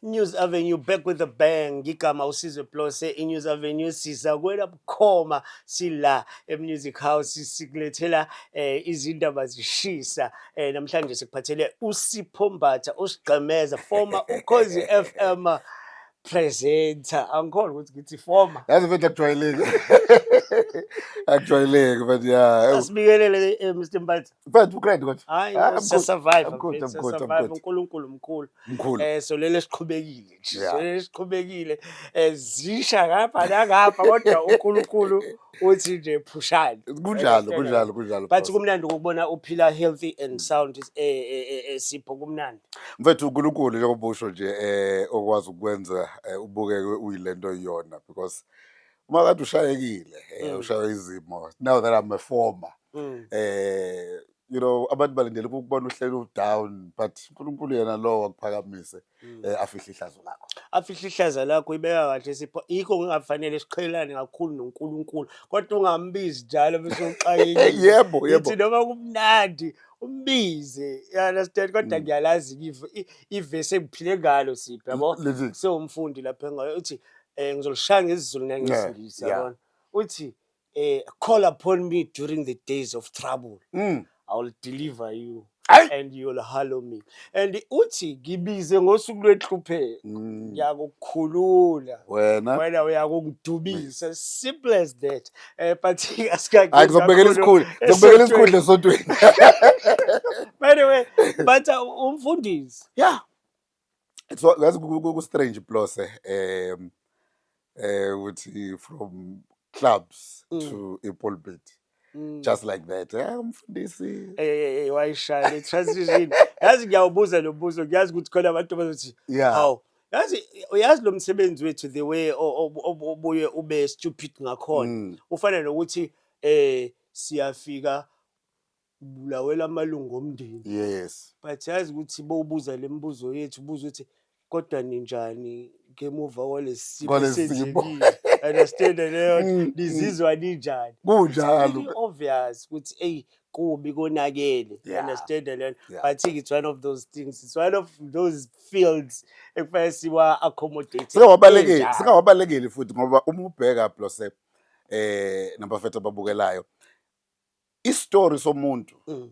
News Avenue back with a bang ngigama usizwe plose inews avenue siza kwela bukhoma sila emusic house sikulethela eh, izindaba zishisa eh, namhlanje sikuphathele usipho mbatha osigqemeza former ukhozi fm presenter angikholwa ukuthi ngithi former yazi mfethu akujwayeleki akujwayeleki mfethu ya asibikelele eh, mr mbatha mfethu ugrade kodwa hayi Ah, I'm good. siyasurvive I'm good, mfethu, I'm good, I'm siyasurvive. good. unkulunkulu mkhulu mkhulu um solele siqhubekile nje Yeah. solele siqhubekile um zisha ngapha nangapha kodwa unkulunkulu uthi nje phushani kunjalo kunjalo kunjalo but boss. kumnandi ukubona uphila healthy and sound eh, eh, eh, eh, sipho kumnandi mfethu unkulunkulu njengoba usho nje eh okwazi ukwenza eh, ubukeke uyilento yona because uma kade ushayekile eh, mm. ushaywe izimo now that i'm a former mm. eh you know abantu balindele ukubona uhleli udown but uNkulunkulu yena lo wakuphakamise mm. eh, afihle ihlazo lakho afihle ihlazo lakho ibeka kahle sipho ikho kungafanele siqhelane kakhulu noNkulunkulu kodwa ungambizi njalo bese uxakile yebo yebo ithi noma kumnandi umbize you understand kodwa mm. ngiyalazi ivese ngiphile ngalo sipho yabo so umfundi lapha ngayo uthi Eh ngizolishaya ngesiZulu ngeke Yeah, ngisingisi yeah. yabona. Uthi eh call upon me during the days of trouble. Mm. I will deliver you Ayi. and you will hallow me. And uthi ngibize ngosuku lwenhlupheko. Mm. Ngiyakukhulula. Wena. Wena uyakungidubisa. Simple as that. Eh but asikagezi. Hayi ngizokubekela isikhulu. Ngizokubekela isikhulu esontweni. By the way, but uh, umfundisi Yeah. so yazi ku-strange plose um eh ukuthi from clubs mm. to a pulpit Mm. just like that eh umfundisi eh, eh, eh wayishaya le transition yazi ngiyawubuza lo mbuzo ngiyazi ukuthi khona abantu bazothi hawu yazi uyazi lo msebenzi wethu the way obuye ube stupid ngakhona mm. ufana nokuthi eh siyafika kubulawela amalungu omndeni yes but yazi ukuthi bowubuza le mibuzo yethu ubuza ukuthi kodwa ninjani ngemuva kwalesimo esenzekile understand leyo nizizwa mm. ninjani kunjalo obvious ukuthi hey kubi konakele yeah. understand leyo yeah. but it's one of those things it's one of those fields ekufanele siwa accommodate singawabalekeli singawabalekeli futhi ngoba uma ubheka blose eh nabafethu ababukelayo isitori somuntu mm.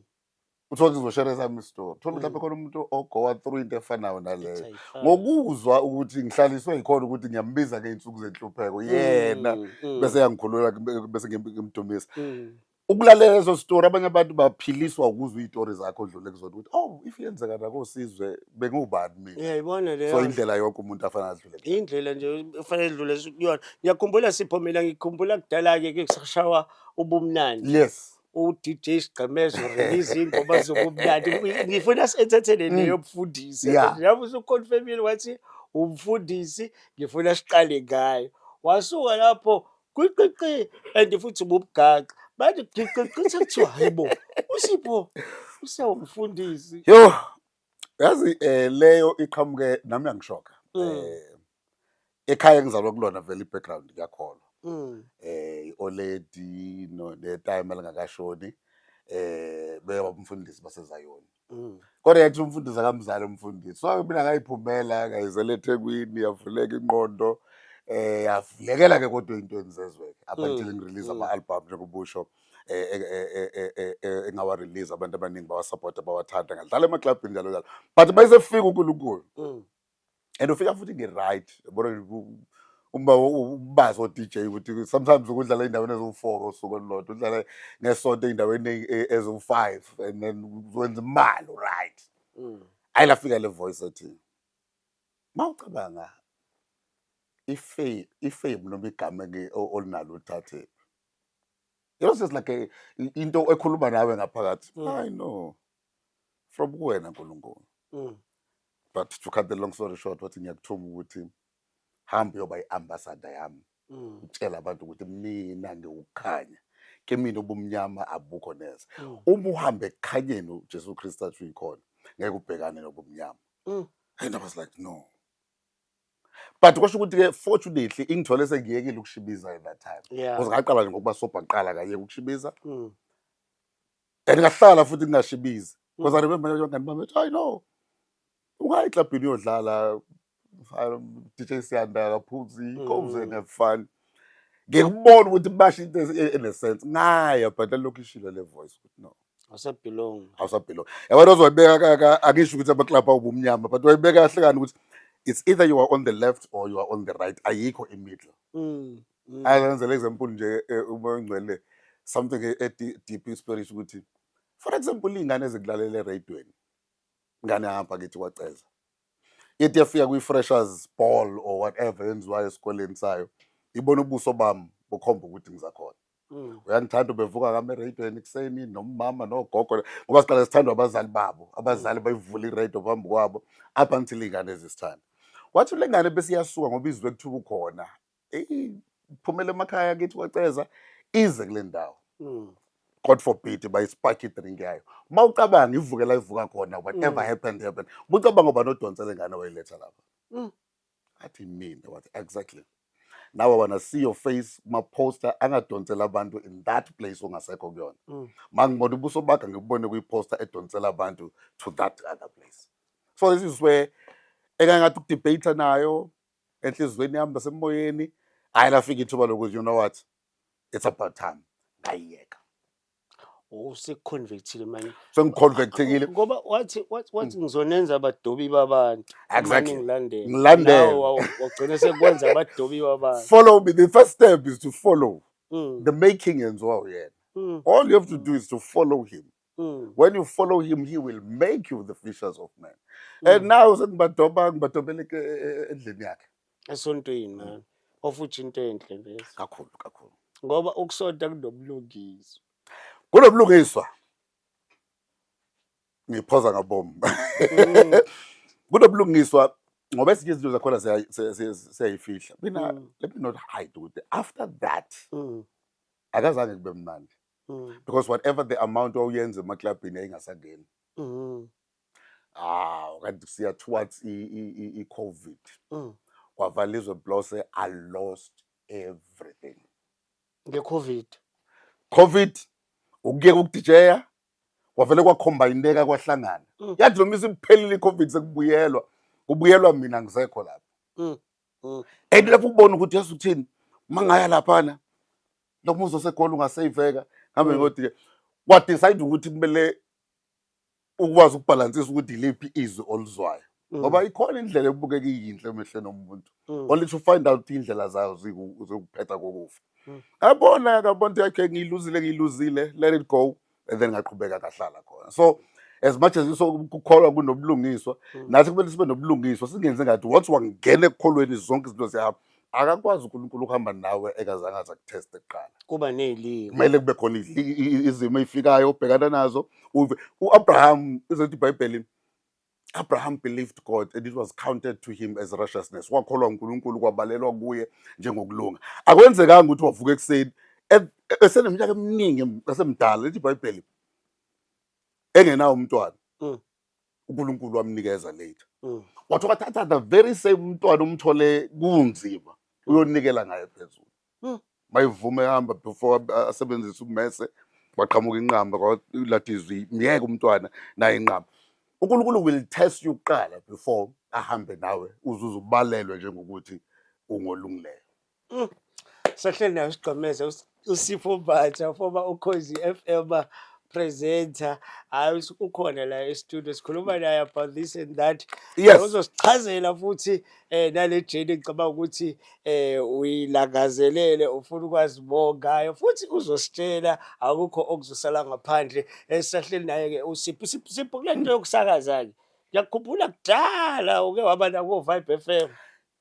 uthola ukuthi ngizoshere sami isitori thola mhlawumbe mm. khona umuntu ogowa through into efanayo naleyo ngokuzwa ukuthi ngihlaliswe yikhona ukuthi ngiyambiza ngey'nsuku zenhlupheko mm, yena bese yangikhulula bese ngimdumisa ukulalela lezo sitori abanye abantu baphiliswa ukuzwa iy'tori zakho odlule kuzona ukuthi oh if yenzeka nakosizwe bengiwubani mina yayibona leyo so indlela yonke umuntu afanele adlule indlela nje ufanele edlule kuyona ngiyakhumbula siphomela ngikhumbula kudala-ke ke kusashawa ubumnandi yes uDJ Sigqemezo release ingoma zobumnandi ngifuna senthethele mm. leyo mfundisi yabo usuconfirmile wathi umfundisi ngifuna siqale ngayo wasuka lapho kwiqiqi and futhi ububugaqi bathi qiqiqi sekuthiwa hayibo usipho usewumfundisi yho Yazi eh leyo iqhamuke nami yangishoka. Mm. Eh ekhaya engizalwa kulona vele ibackground ngiyakholwa. Mm. Eh ioledi no netime elingakashoni eh beka umfundisi basezayoni. Mm. Kodwa yathi umfundisi akamzali umfundisi. So mina ngayiphumela ngayizela eThekwini yavuleka inqondo eh yavulekela ke kodwa into enizezwe up until mm. ngirelease ama album njengoba usho. Mm. eh, eh, eh, engawarelease abantu abaningi bawasapota bawathanda ngadlala emaklabhini njalo njalo but mayesefika unkulunkulu mm. and ufika futhi ngi-right uma ubazi o-dj ukuthi sometimes ukudlala ey'ndaweni eziwu-four osuku olulodwa udlala ngesonto ey'ndaweni eziwu-five and then wenza imali right mm. ayi lafika le voice ethi ma ucabanga ifame noma igama olinalo uthathephi Yours is like a, into ekhuluma nawe ngaphakathi. Mm. I know. From kuwena Nkulunkulu. Mm. But to cut the long story short, wathi ngiyakuthuma ukuthi hambe yoba i-ambassador yami. Mm. Utshela abantu ukuthi mina ngiwukhanya. Ke mina ubumnyama abukho neze. Mm. Uma uhambe ekukhanyeni uJesu Kristu athi uyikhona, ngeke ubhekane nobumnyama. Mm. And I was like, no. but kwasho ukuthi ke fortunately ingithole sengiyekile ukushibiza at that time yeah. because ngaqala nje ngokuba sobha kuqala kayeke ukushibiza mm. and ngahlala futhi ngingashibizi because mm. i remember abangani bami bethi hayi no ungayi eklabhini uyodlala DJ Siyanda akaphuzi mm. comes and have fun ngikubona ukuthi basho into enesense ngaya but lokhu ishilo le voice ukuthi no awusabelong awusabelong yabona ozoyibeka akisho ukuthi amaklabhu awubumnyama but wayibeka kahle kani ukuthi it's either you are on the left or you are on the right ayikho imiddle mm, mm. ayenzela example nje e, uma ungcwele something e, e deep spirit ukuthi for example ingane ezikulalela eradweni ngane hamba kithi kwaceza ithi yafika kwi-freshers ball or whatever yenziwayo esikoleni sayo ibona ubuso bami bukhomba ukuthi ngizakhona Mm. uyandithanda ubevuka kami eradioweni ekuseni nomama nogogo ngoba siqale sithandwa abazali babo abazali bayivula iradio phambi kwabo up until iy'ngane ezisithanda wathi le ngane besiyasuka ngoba izwe kuthiwa ukhona eyi phumela emakhaya kithi kwaceza ize kule ndawo Mm. god forbid bayispark idrink yayo uma ucabanga ivuke la ivuka khona whatever Mm. happened happened ubucabanga uba nodonsela ingane wayiletha lapha athi mina wathi exactly nawe wanna see your face kuma-poster angadonsela abantu in that place ongasekho kuyona mm. ma ngibona ubuso bakhe ngikubone kwiposter edonsela abantu to that other place so this is where ekangathi ukudebate nayo enhliziyweni yami nasemoyeni hayi lafika ithuba lokuthi you know what it's about time ngayiyeka useconvictile manje sengiconvictekile ngoba wathi wathi mm. ngizonenza abadobi babantu exactly ngilandela ngilandela wagcina sekwenza abadobi babantu follow me the first step is to follow mm. the making yenziwa uyena mm. all you have to do is to follow him Mm. When you follow him, he will make you the fishers of men. Mm. And now sengibadoba ngibadobele endlini yakhe. esontweni mani ofuthi into enhle vese kakhulu kakhulu ngoba ukusonta kunobulungiswa kunobulungiswa ngiphoza ngabomu mm. kunobulungiswa ngoba ezinye izinto zakhona siyayifihla mina mm. let me not hide ukuthi after that mm. akazange kube mnandi because whatever the amount wawuyenza emaklabhini yayingasangeni hawu kanti siya towards i-covid mm. kwavala izwe blose i lost everything nge-covid covid ukuyeka ukudijeya kwavele kwakhombineka kwahlangana mm. yathi noma isiphelile i-covid sekubuyelwa kubuyelwa mina ngisekho lapho mm. mm. and lapho ubona ukuthi yesu uthini uma ngaya laphana lomuzi osegoli ungaseyiveka ngambe mm. ngodiye wadecide ukuthi kumele ukwazi ukubhalansisa ukuthi iliphi izwi oluzwayo mm. ngoba ikhona indlela ebukeka iyinhle emehlweni omuntu mm. only to find out indlela zayo zikuphetha kokufa mm. abona akabona ukuthi okay ngiyiluzile ngiyiluzile let it go and then ngaqhubeka kahlala khona so as much as kukholwa kunobulungiswa nathi kumele sibe nobulungiswa singenze ngathi once wangena ekukholweni zonke izinto ziyahamba akakwazi uNkulunkulu ukuhamba nawe ekazange aza kuteste kuqala kuba nezilimo kumele kube khona izimo ezifikayo obhekana nazo uve uAbraham izothi iBhayibheli Abraham believed God and it was counted to him as righteousness wakholwa uNkulunkulu kwabalelwa kuye njengokulunga akwenzekanga ukuthi wavuka ekuseni eseneminyaka eminingi esemdala lithi iBhayibheli engenawo umntwana mm. uNkulunkulu wamnikeza later mm. wathi wakathatha the very same umntwana umthole kunzima uyonikela ngaye phezulu mm. mayivume hamba before asebenzise umese waqhamuka inqamba kwalatizwi myeke umntwana naye inqamba uNkulunkulu will test you kuqala before ahambe nawe uzuze ubalelwe njengokuthi ungolungileyo Mm. Sahleli nayo sigqemeze uSipho Mbatha former uKhozi FM presenter hayi ukhona la e-studio sikhuluma naye about this and that yes. uzosichazela futhi eh nale jeni ngicabanga ukuthi eh uyilangazelele ufuna ukwazi more ngayo futhi uzositshela akukho okuzosala ngaphandle esisahleli naye ke usipho sipho kulento yokusakaza ke ngiyakhumbula kudala uke waba nako Vibe FM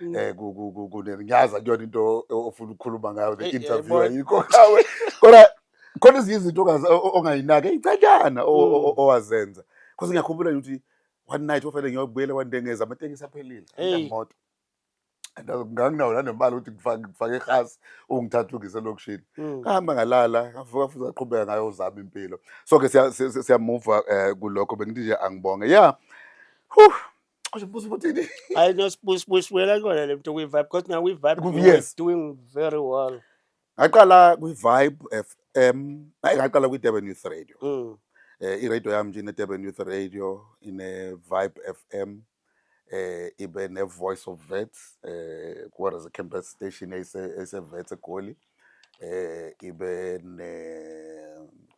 Mm. eh kunenyaza kuyona into ofuna ukukhuluma ngayo the interview ayikho nawe kodwa khona ezinye izinto ongayinaki eyicanyana mm. owazenza because ngiyakhumbula ukuthi one night ofanele ngiyobuyela kwandengeza amatekisi aphelile amoto nganginawo nanemali ukuthi ngifake irhasi ungithatha ungise elokishini mm. ngahamba ngalala ngavuka futhi aqhubeka ngayo uzama impilo so ke siyamuva um eh, kulokho bengithi nje angibonge ya yeah. Oje mbuzo ukuthi I know spush push wela kona le mntu kwi vibe because now we vibe Ku- we were yes. doing very well. ngaqala kwi-vibe fm hayi ngaqala kwi-durban youth radio Mm. eh iradio yami nje ine-durban youth radio ine-vibe fm eh ibe ne-voice of vets eh kuwara campus station eyise- eyise-vets egoli eh ibe ne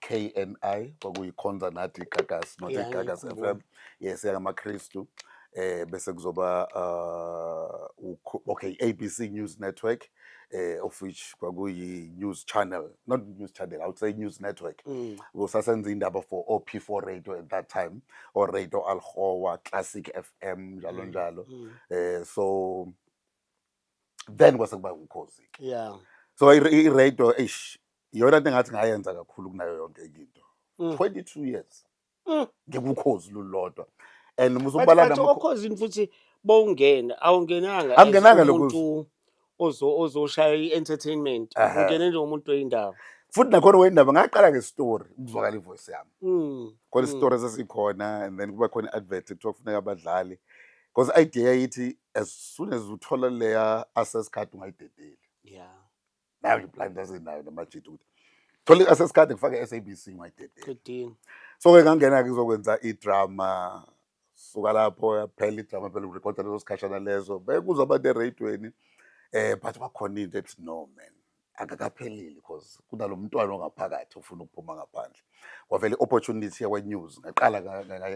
KNI kwakuyikhonza nathi Gagas not Yeah, Gagas FM ngiyakhumbula. yes yangamaKristu eh bese kuzoba uh ukho- okay ABC News Network eh of which kwakuyi news channel not news channel i would say news network Mm. kusasenza indaba for OP4 radio at that time or radio Alhoa Classic FM njalo Mm, njalo mm. eh so then kwase kuba umkhozi ke yeah so i-radio eish iyona nto engathi ngayenza kakhulu kunayo yonke into 22 mm. years mm. ngikukhozi lulodwa and uma usubala namakhozi futhi bowungena awungenanga angenanga lokho ozoshaya i-entertainment ungene nje umuntu oyindaba futhi nakhona wendaba ngaqala ngestory ukuzwakala ivoice yami mm, khona mm. isitori sasikhona and then kuba khona i-advert kuthiwa kufuneka abadlali because i-idea yayithi as soon as uthola leya access card ungayidedeli yeah nayo nje plan that's nayo namajita ukuthi thola i-access card ngifake i-SABC ungayidedeli qedini so ke ngangena ke ngizokwenza idrama suka lapho yaphela idrama phela urecorda leso sikhashana lezo bekuzwa abantu eradweni eh but kwakhona into ethi no man akakapheleli because kunalo mntwana ongaphakathi ofuna ukuphuma ngaphandle kwavele i-opportunity yakwa-news ngaqala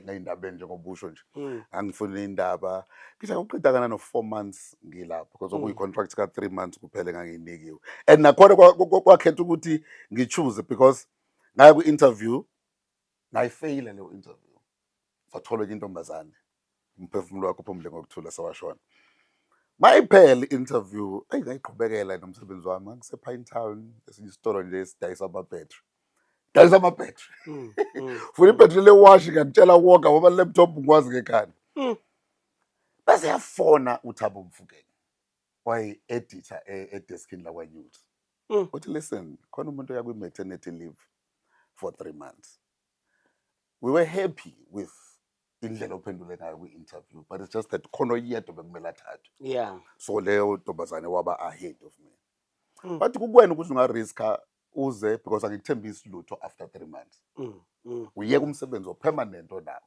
ngayindaba enjengobusho nje hmm. ngangifuna indaba ngisha uqedakana no-four months ngilapho because hmm. okuyi-contract ka-three months kuphele ngangiyinikiwe and nakhona kwakhetha ukuthi ngi-choose because ngaye kwi-interview Ngayifeyila leyo interview. Kwatholwa intombazane. Umphefumulo wakho phumule ngokuthula sewashona. Mayiphele interview, ayi ngayiqhubekela nomsebenzi wami. Ngisepha in town, esinye isitolo nje esidayisa ama battery. Dayisa ama battery. Mm, mm. Funa ibattery le wash ngiyakutshela wonke ngoba laptop ngikwazi ngekhanda. Mm. Bese yafona uThabo Mfukeni. wayi-editha e, edeskini lakwanews Mm. uthi listen khona umuntu oya kwi-maternity leave for three months we were happy with indlela ophendule ngayo kwi-interview but it's just that khona oyedwa bekumele athathwe yeah so leyo ntombazane waba ahead of me Mm. but kukwena ukuthi ungariska uze because angikuthembisi lutho after three months mm. Mm. uyeka umsebenzi opermanent onawo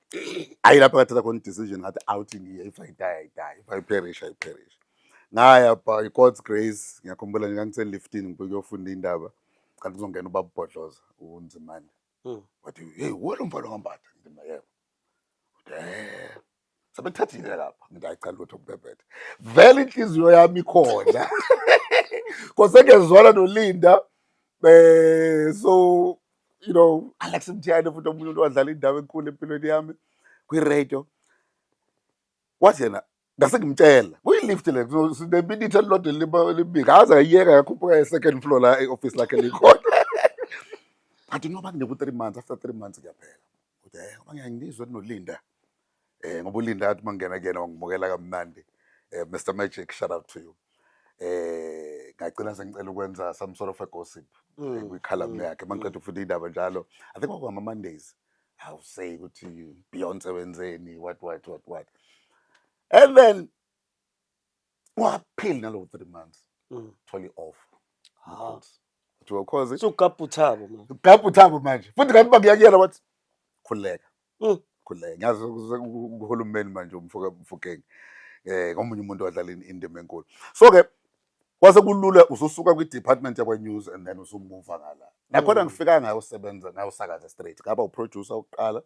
ayi lapho ngathatha khona i-decision ngathi awuthi ngiye if i die i die if i perish i perish ngaya by god's grace ngiyakhumbula nje ngangise-liftin ngibuye kuyofunda indaba kanti kuzongena ubabubhodloza unzimane Mm. wathi heyi wuwe lo mfana ongambatha ngithi mna yebo Uthi, "Eh, sebethathile lapha ngithi hayi cha lutho kubhebhethe vele inhliziyo yami ikhona kosengezwala nolinda um so you know alex mthiyane futhi omunye umuntu wadlala indawo enkulu empilweni yami kwiradio wathi yena ngase ngimtshela kuyilift le sineminitha elilodwa elima- elimibili aze ayiyeka yakhuphuka e-second floor la e-office lakhe likhona but noba kuneku-three months after three months kuyaphela kuthi um abangiyangizwa nolinda eh ngoba ulinda athi mangena kuyena wangimukela kamnandi eh Mr Magic shout out to you eh ngacina sengicela ukwenza some sort of a gossip mm. eh, kwikhala mm. yakhe mangiqeda mm. ukufunda indaba njalo i think kwakuma mondays how say ukuthi Beyonce wenzeni what what what what and then waphili nalowo three months Mm. thola i-off Ha. kuthiwa ukhozi So ukapha uthabo manje. ugabha uthabo manje futhi kanti bakuyakuyela wathi khululeka Mm. khululeka ngiyazi ukuze u- u- uhulumeni manje umfoka mfokeng eh ngomunye umuntu wadlala in- indima enkulu so ke kwase kulula ususuka kwi-department yakwa-news and then usumuva ngala nakhona Mm. ngifika ngayosebenza ngayosakaza straight ngaba uproducer wokuqala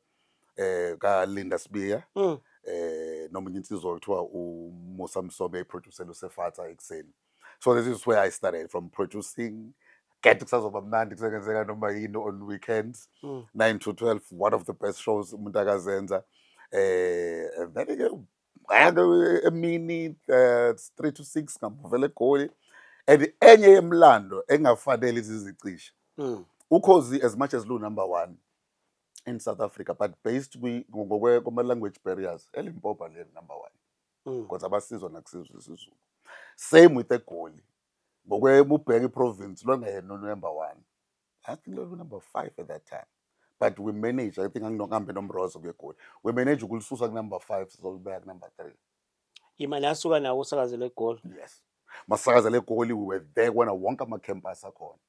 eh ka Linda Sibiya Mm. eh noma enye insizwa kuthiwa u Musa Msobe eproducer uSefatha ekseni so this is where i started from producing get kusazoba mnandi kusengenzeka noma yini on weekends Mm. 9 to 12 one of the best shows umuntu akazenza eh and then ke ngake emini eh, 3 to 6 ngamuvela egoli and enye yemlando engafanele izizicisha Mm. ukhozi as much as lu number 1 in South Africa but based kuma language barriers elimpopa le number 1 mm. because abasizwa nakusizwe isizulu same with egoli ngokwe mubheke province lwangayena number 1 i think lolu number 5 at that time but we manage i think anginokuhambe nomrozo kuyegoli we manage ukulisusa ku number 5 sizolibeka ku number 3 imali asuka nawo usakazela egoli yes masakazela egoli we were there kubona wonke ama-campus akhona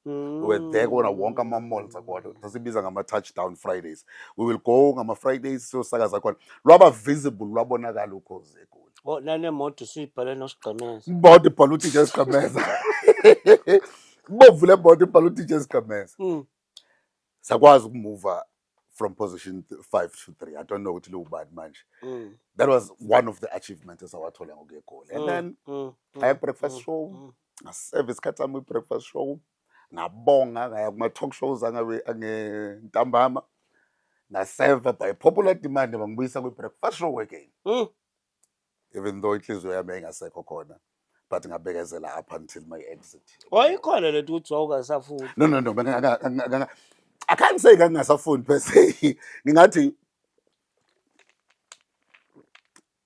we were there kubona wonke ama-malls akhona sasibiza ngama-touchdown fridays we will go ngama-fridays siyosakaza khona lwaba visible lwabonakala ukhozi egoli Oh, nanemoto siyibhale nosigqemeza imoto ibhala udj sigqemeza ibomvu le moto ibhala udj sigqemeza Mm. sakwazi ukumuva from position 5 to 3 i don't know ukuthi liwubani manje mm. that was one of the achievements esawathola ngokuye egoli and mm, then mm, mm, aya breakfast mm, show mm. ngaseve isikhathi sami breakfast show ngabonga ngaya kuma talk shows angabe ngentambama ngaseva by popular demand bangibuyisa kwi breakfast show again mm. even though inhliziyo yami yayingasekho khona but ngabekezela up until my exit wayikhona le nto ukuthi wawungasafundi no no no benga- nga- nga- nga- i can't say ngangingasafundi per se ngingathi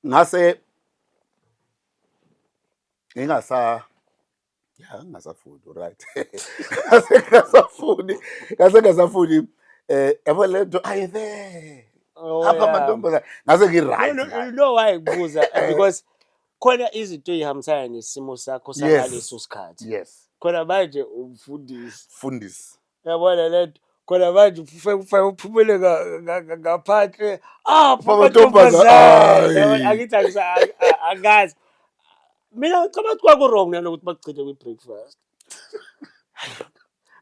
ngase ngingasa ya ngingasafuni right ngase ngingasafuni ngase ngingasafuni eh yabo le nto ayi there Oh, apha yeah. amantombazane ngase ngi-right No, no, ngayo. you know why ngibuza Eh. because khona izinto ey'hambisana nesimo sakho Yes. sangaleso sikhathi yes khona manje umfundisi fundisi Yabona lento khona manje ufike ufike uphumele nga- nga- nga- ngaphandle apho Amantombazane, amantombazane Yabona, ayi. angithi angisa- ang- a- angazi mina ngicabanga ukuthi kwaku-wrong nanokuthi bakugcine kwi-breakfast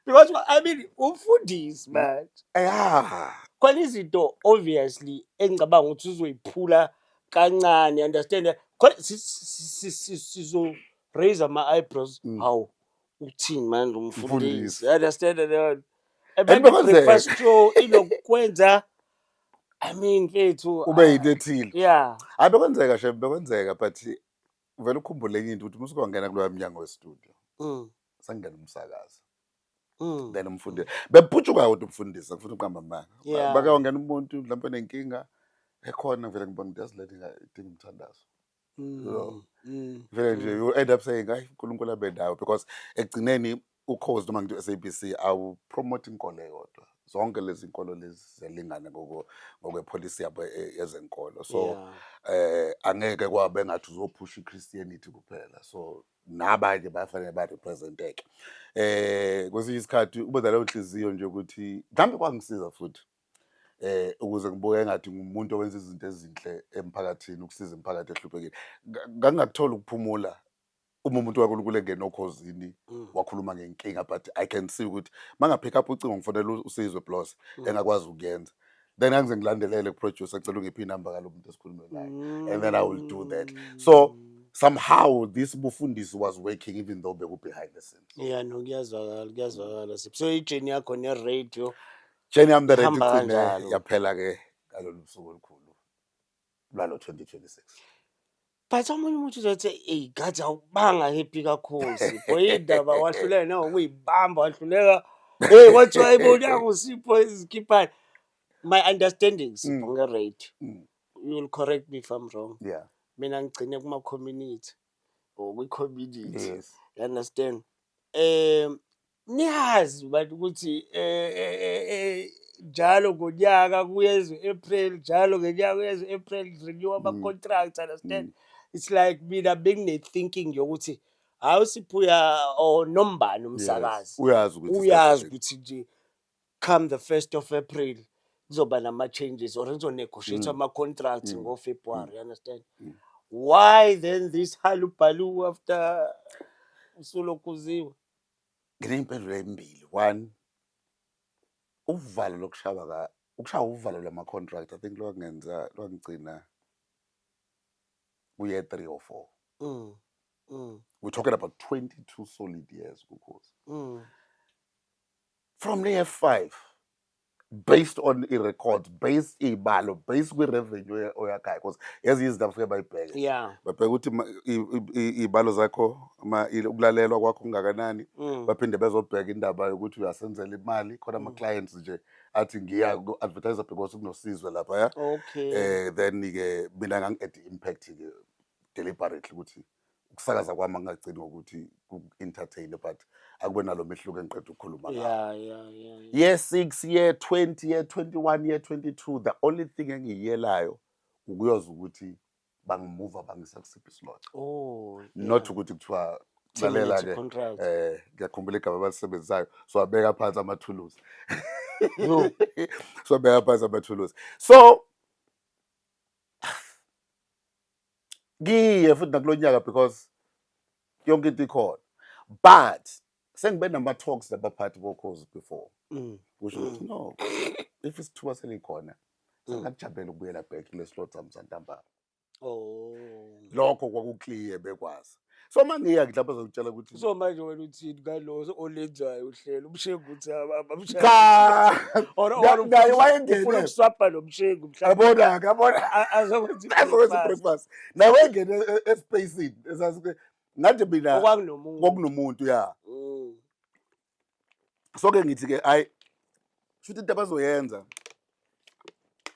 because i mean umfundisi manje ya khona izinto obviously engicabanga ukuthi uzoyiphula kancane understand khona si- si- si- si- sizo-raise ama-eyebrows Mm. hawu Uthini manje umfundisi? Mfundisi. You understand that? And Abantu bekwenzeka. breakfast show inokwenza I mean mfethu. ube yinto ethile Yeah. hayi bekwenzeka shem bekwenzeka but vele ukhumbule enye into ukuthi uma usukangena kuloya mnyango westudio Mm. sangena umsakazi Mm. then umfundisi beputshuka kodwa umfundisi ngifuna uqamba amanga Yeah. bakawangena umuntu mhlawumbe nenkinga ekhona vele ngibona ukuthi yazi lento inga- idinga umthandazo Mm, so mm, vele nje mm. you end up saying hayi uNkulunkulu abe nawe because ekugcineni ukhozi noma ngithi u-SABC awu promote inkolo eyodwa zonke lezi nkolo lezi zelingane ngoko ngokwepolicy yabo e- yezenkolo so Yeah. eh angeke kwabe ngathi uzophusha iChristianity kuphela so nabanye bafanele ba representeke eh kwesinye isikhathi ube naleyo nhliziyo nje ukuthi mhlambe kwangisiza futhi eh ukuze ngibuke engathi ngumuntu owenza izinto ezinhle emphakathini ukusiza imiphakathi ehluphekile ngangakuthola ukuphumula uma umuntu waNkulunkulu engena okhozini mm. wakhuluma ngenkinga but i can see ukuthi mangaphika up ucingo ngifonela usizwe plus mm. engakwazi ukuyenza then angize ngilandelele kuproducer cela ungiphi inamba kalomuntu esikhulume naye and then i will do that so mm somehow this bufundisi was working even though beku behind the scenes yeah no kuyazwakala kuyazwakala so ijeni yakho ne radio Jane yami direct Ihamba igcine kanjalo. yaphela ke ngalolu suku olukhulu lwalo 2026. but omunye umuntu uzothi eyi gathi awubanga happy kakhulu sipho indaba wahluleka nawe ukuyibamba wahluleka hey kwathiwa ayibonanga usipho izikhiphani my understanding sipho Mm. nge-rate Mm. you will correct me if i'm wrong Yeah. mina ngigcine kuma-community or kwi-community Yes. you understand um Niyazi bantu ukuthi eh, eh, eh, eh, njalo ngonyaka kuyeza u-April, njalo ngenyaka kuyeza u-April renew Mm. ama-contracts understand. It's like mina bengine-thinking yokuthi hawu siphuya or nombani Yes. umsakazi. Uyazi ukuthi Uyazi isikhathi- ukuthi nje come the first of April kuzoba nama-changes or ngizonegotiate Mm. ama-contracts Mm. ngo-February, you understand? Mm. Why then this halubalu after usulokuziwe? Nginey'mpendulo ey'mbili. One, uvalo lokushawa ka ukushawa uvalo lama-contract I think lwangenza lwangigcina kuye three or four. Mm. Mm. We're talking about 22 solid years kuKhosi. Mm. From layer 5 based on i-record based iy'balo based kwi-revenue oyakhayo because ezinye izinto abafike bayibheke yeah babheke ukuthi ma- i- i- i- iy'balo zakho ama- i- ukulalelwa kwakho kungakanani Mm. baphinde bezobheka indaba yokuthi uyasenzela imali khona ama-clients nje athi ngiya ku-advertise because kunosizwe laphaya okay um then-ke mina ngangi-add i-impact-ke deliberately ukuthi ukusakaza kwami angagcini ngokuthi ku-entertain but akube nalo mehluko engiqeda ukukhuluma yeah, yeah, yeah, yeah. year six year twenty year twenty one year twenty two the only thing engiyiyelayo ukuyoza ukuthi bangimuva bangisa kusiphi isilotha oh, yeah. not ukuthi kuthiwa lalela ke eh ngiyakhumbula igama abalisebenzisayo so abeka phansi amathuluzi so abeka phansi amathuluzi so kiye futhi nakulo nyaka because yonke into ikhona but sengibe nama-talks nabaphathi bokhozi before Mm. kusho ukuthi no if isithuba selikhona Mm. singakujabela ukubuyela back kule slot sami santambama Oh. lokho kwakukliye bekwazi so uma ngiya ngidla bazongitshela ukuthi so manje wena uthini ngalo olenzayo uhlelo umshengu ukuthi abamshaye wayengene ukuswapha lo mshengu yabona ke yabona azokwenza i-breakfast naye wayengene e-, e-, espacini ngathi mina kwakunomuntu ya mm. so ke ngithi ke hayi shuthi into abazoyenza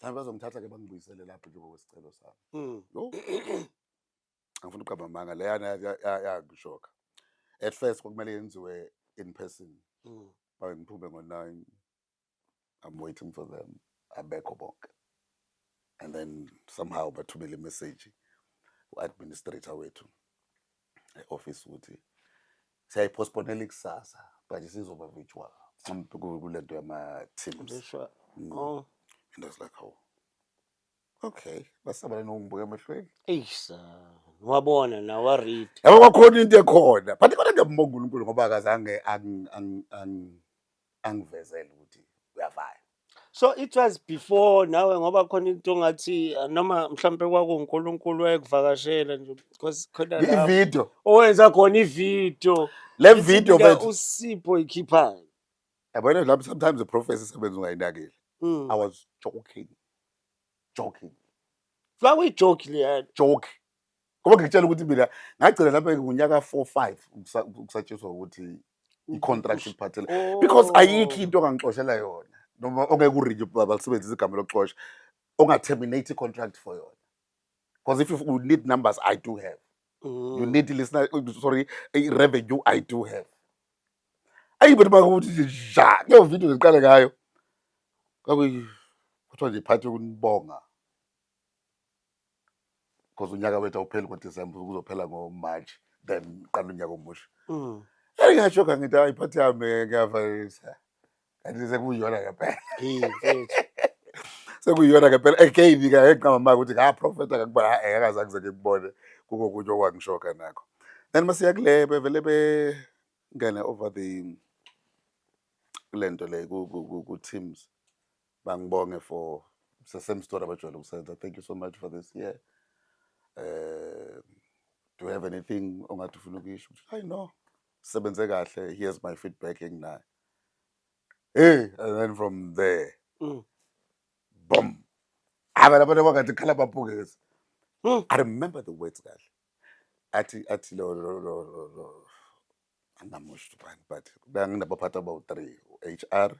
mhlawumbe bazongithatha ke bangibuyisele lapho njengoba kwesicelo sami mm. angifuni ukuqamba amanga leyana yangishoka at first kwakumele yenziwe in person mm. babe ngiphume ngo-nine i'm waiting for them abekho bonke and then somehow bathumele imeseji u-administrator wethu e-office ukuthi siyayipostponela ikusasa but isizoba virtual kule nto yama-teams mm. oh. and i was like oh Okay, basabela nokungibuka emehlweni. Eish, wabona na wa read. Yabo kwakhona into ekhona. But kodwa ngiyambonga uNkulunkulu ngoba akazange ang- ang- ang- angivezele ukuthi uyavaya. So it was before nawe ngoba khona into ongathi uh, noma mhlambe kwakuNkulunkulu wayekuvakashela nje because khona la Ivideo. owenza khona ivideo. Le video bethu. usipho ikhiphayo. yabona lapho sometimes iprofesi isebenza ungayinakile Mm. i was joking joking Kwakuyijoki leyana. joke ngoba ngikutshela ukuthi mina ngagcina lapha ngunyaka four five ukusa- ukusatshiswa ukuthi i-contract iphathele Oh. because ayikho into ongangixoshela yona noma ongeke urinye balisebenzisa igama lokuxosha onga-terminate i-contract for yona Because if you need numbers, I do have. Mm. You need listener, oh, sorry, eh, revenue, I do have. Ayi but bakuthi ja, leyo video ngiqale ngayo. Kwakuyi kuthiwa nje phathi kunibonga. Because unyaka wethu awupheli ngoDecember kuzophela ngoMarch then qala unyaka omusha. Mm. Engasho kangithi hayi phathi yami ngiyavalisa. kanti sekuyiyona ngempela sekuyiyona ngempela again ke ngiqamba ukuthi ka prophet akakuba akaza kuze ngikubone kuko kunye okwangishoka nakho then masiya kule bevele be ngene over the lento le ku ku teams bangibonge for it's the same story abajwayele ukusenza thank you so much for this year eh do you have anything ongathi ufuna ukuyisho hayi no sebenze kahle here's my feedback enginayo hey and then from there Mm. boom aba laba kwakade khala bapukezi Mm. i remember the words kahle athi athi lo lo lo lo- lo angamusho ubani but benginabaphathi abawu-three u-hr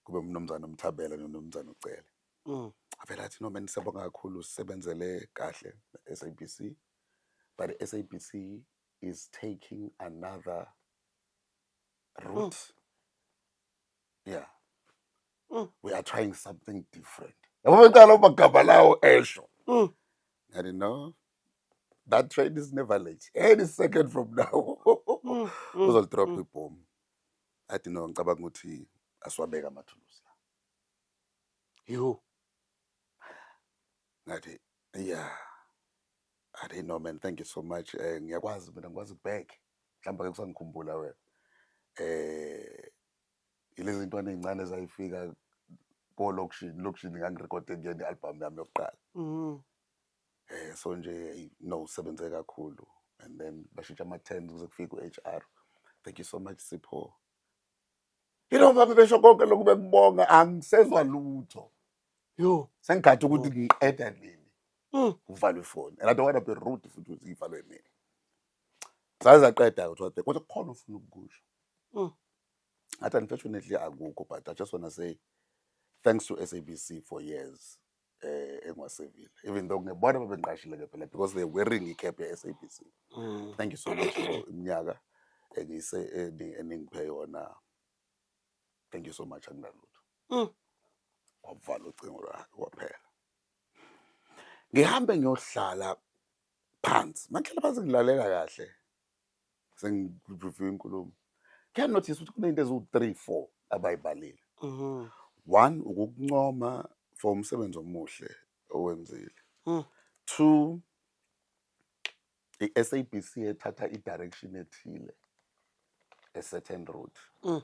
kube umnumzane umthabela nomnumzane ucele Mm. avele athi noma nisabonga kakhulu usebenzele kahle sabc but sabc is taking another Ruth. Mm. Yeah. Mm. We are trying something different. Yabo bengicela uma gama lawo esho. Mm. And you know that train is never late. Any second from now. Mm. Mm. Uzol drop mm. ibomb. Athi no ngicabanga ukuthi asiwabeka amathulusi la. Yho. Ngathi yeah. I didn't know man, thank you so much. Eh ngiyakwazi mina ngikwazi ukubheka. mhlawumbe ke kusangikhumbula wena eh ilezi ntwana ezincane zayifika ko lokushini lokushini ngangirekhode kuyena i-album yami yokuqala mhm eh so nje no sebenze kakhulu and then bashintsha ama terms kuze kufike ku-HR thank you so much Sipho yilo baba besho konke lokhu bekubonga angisezwa lutho yo sengigathi ukuthi ngiqeda nini mm. kuvalwe ifoni and i don't want to be rude futhi ukuthi ivalwe nini Zaze zaqeda kodwa kodwa kukhona ufuna ukukusho. Mm. Ngathi unfortunately akukho but I just want to say thanks to SABC for years eh engwasevile even though ngebona babengiqashile ke phela because they wearing icap ye SABC mm. thank you so much for iminyaka engise eningiphe yona thank you so much anginalutho mm. wavala ucingo lwakhe kwaphela ngihambe ngiyohlala phansi makuhlala phansi ngilalela kahle sengireview inkulumo can notice ukuthi kunento eziwu-three four abayibalile Mhm. one ukukuncoma for umsebenzi omuhle owenzile Mm. two i-sabc ethatha i-direction ethile e-certain route Mm.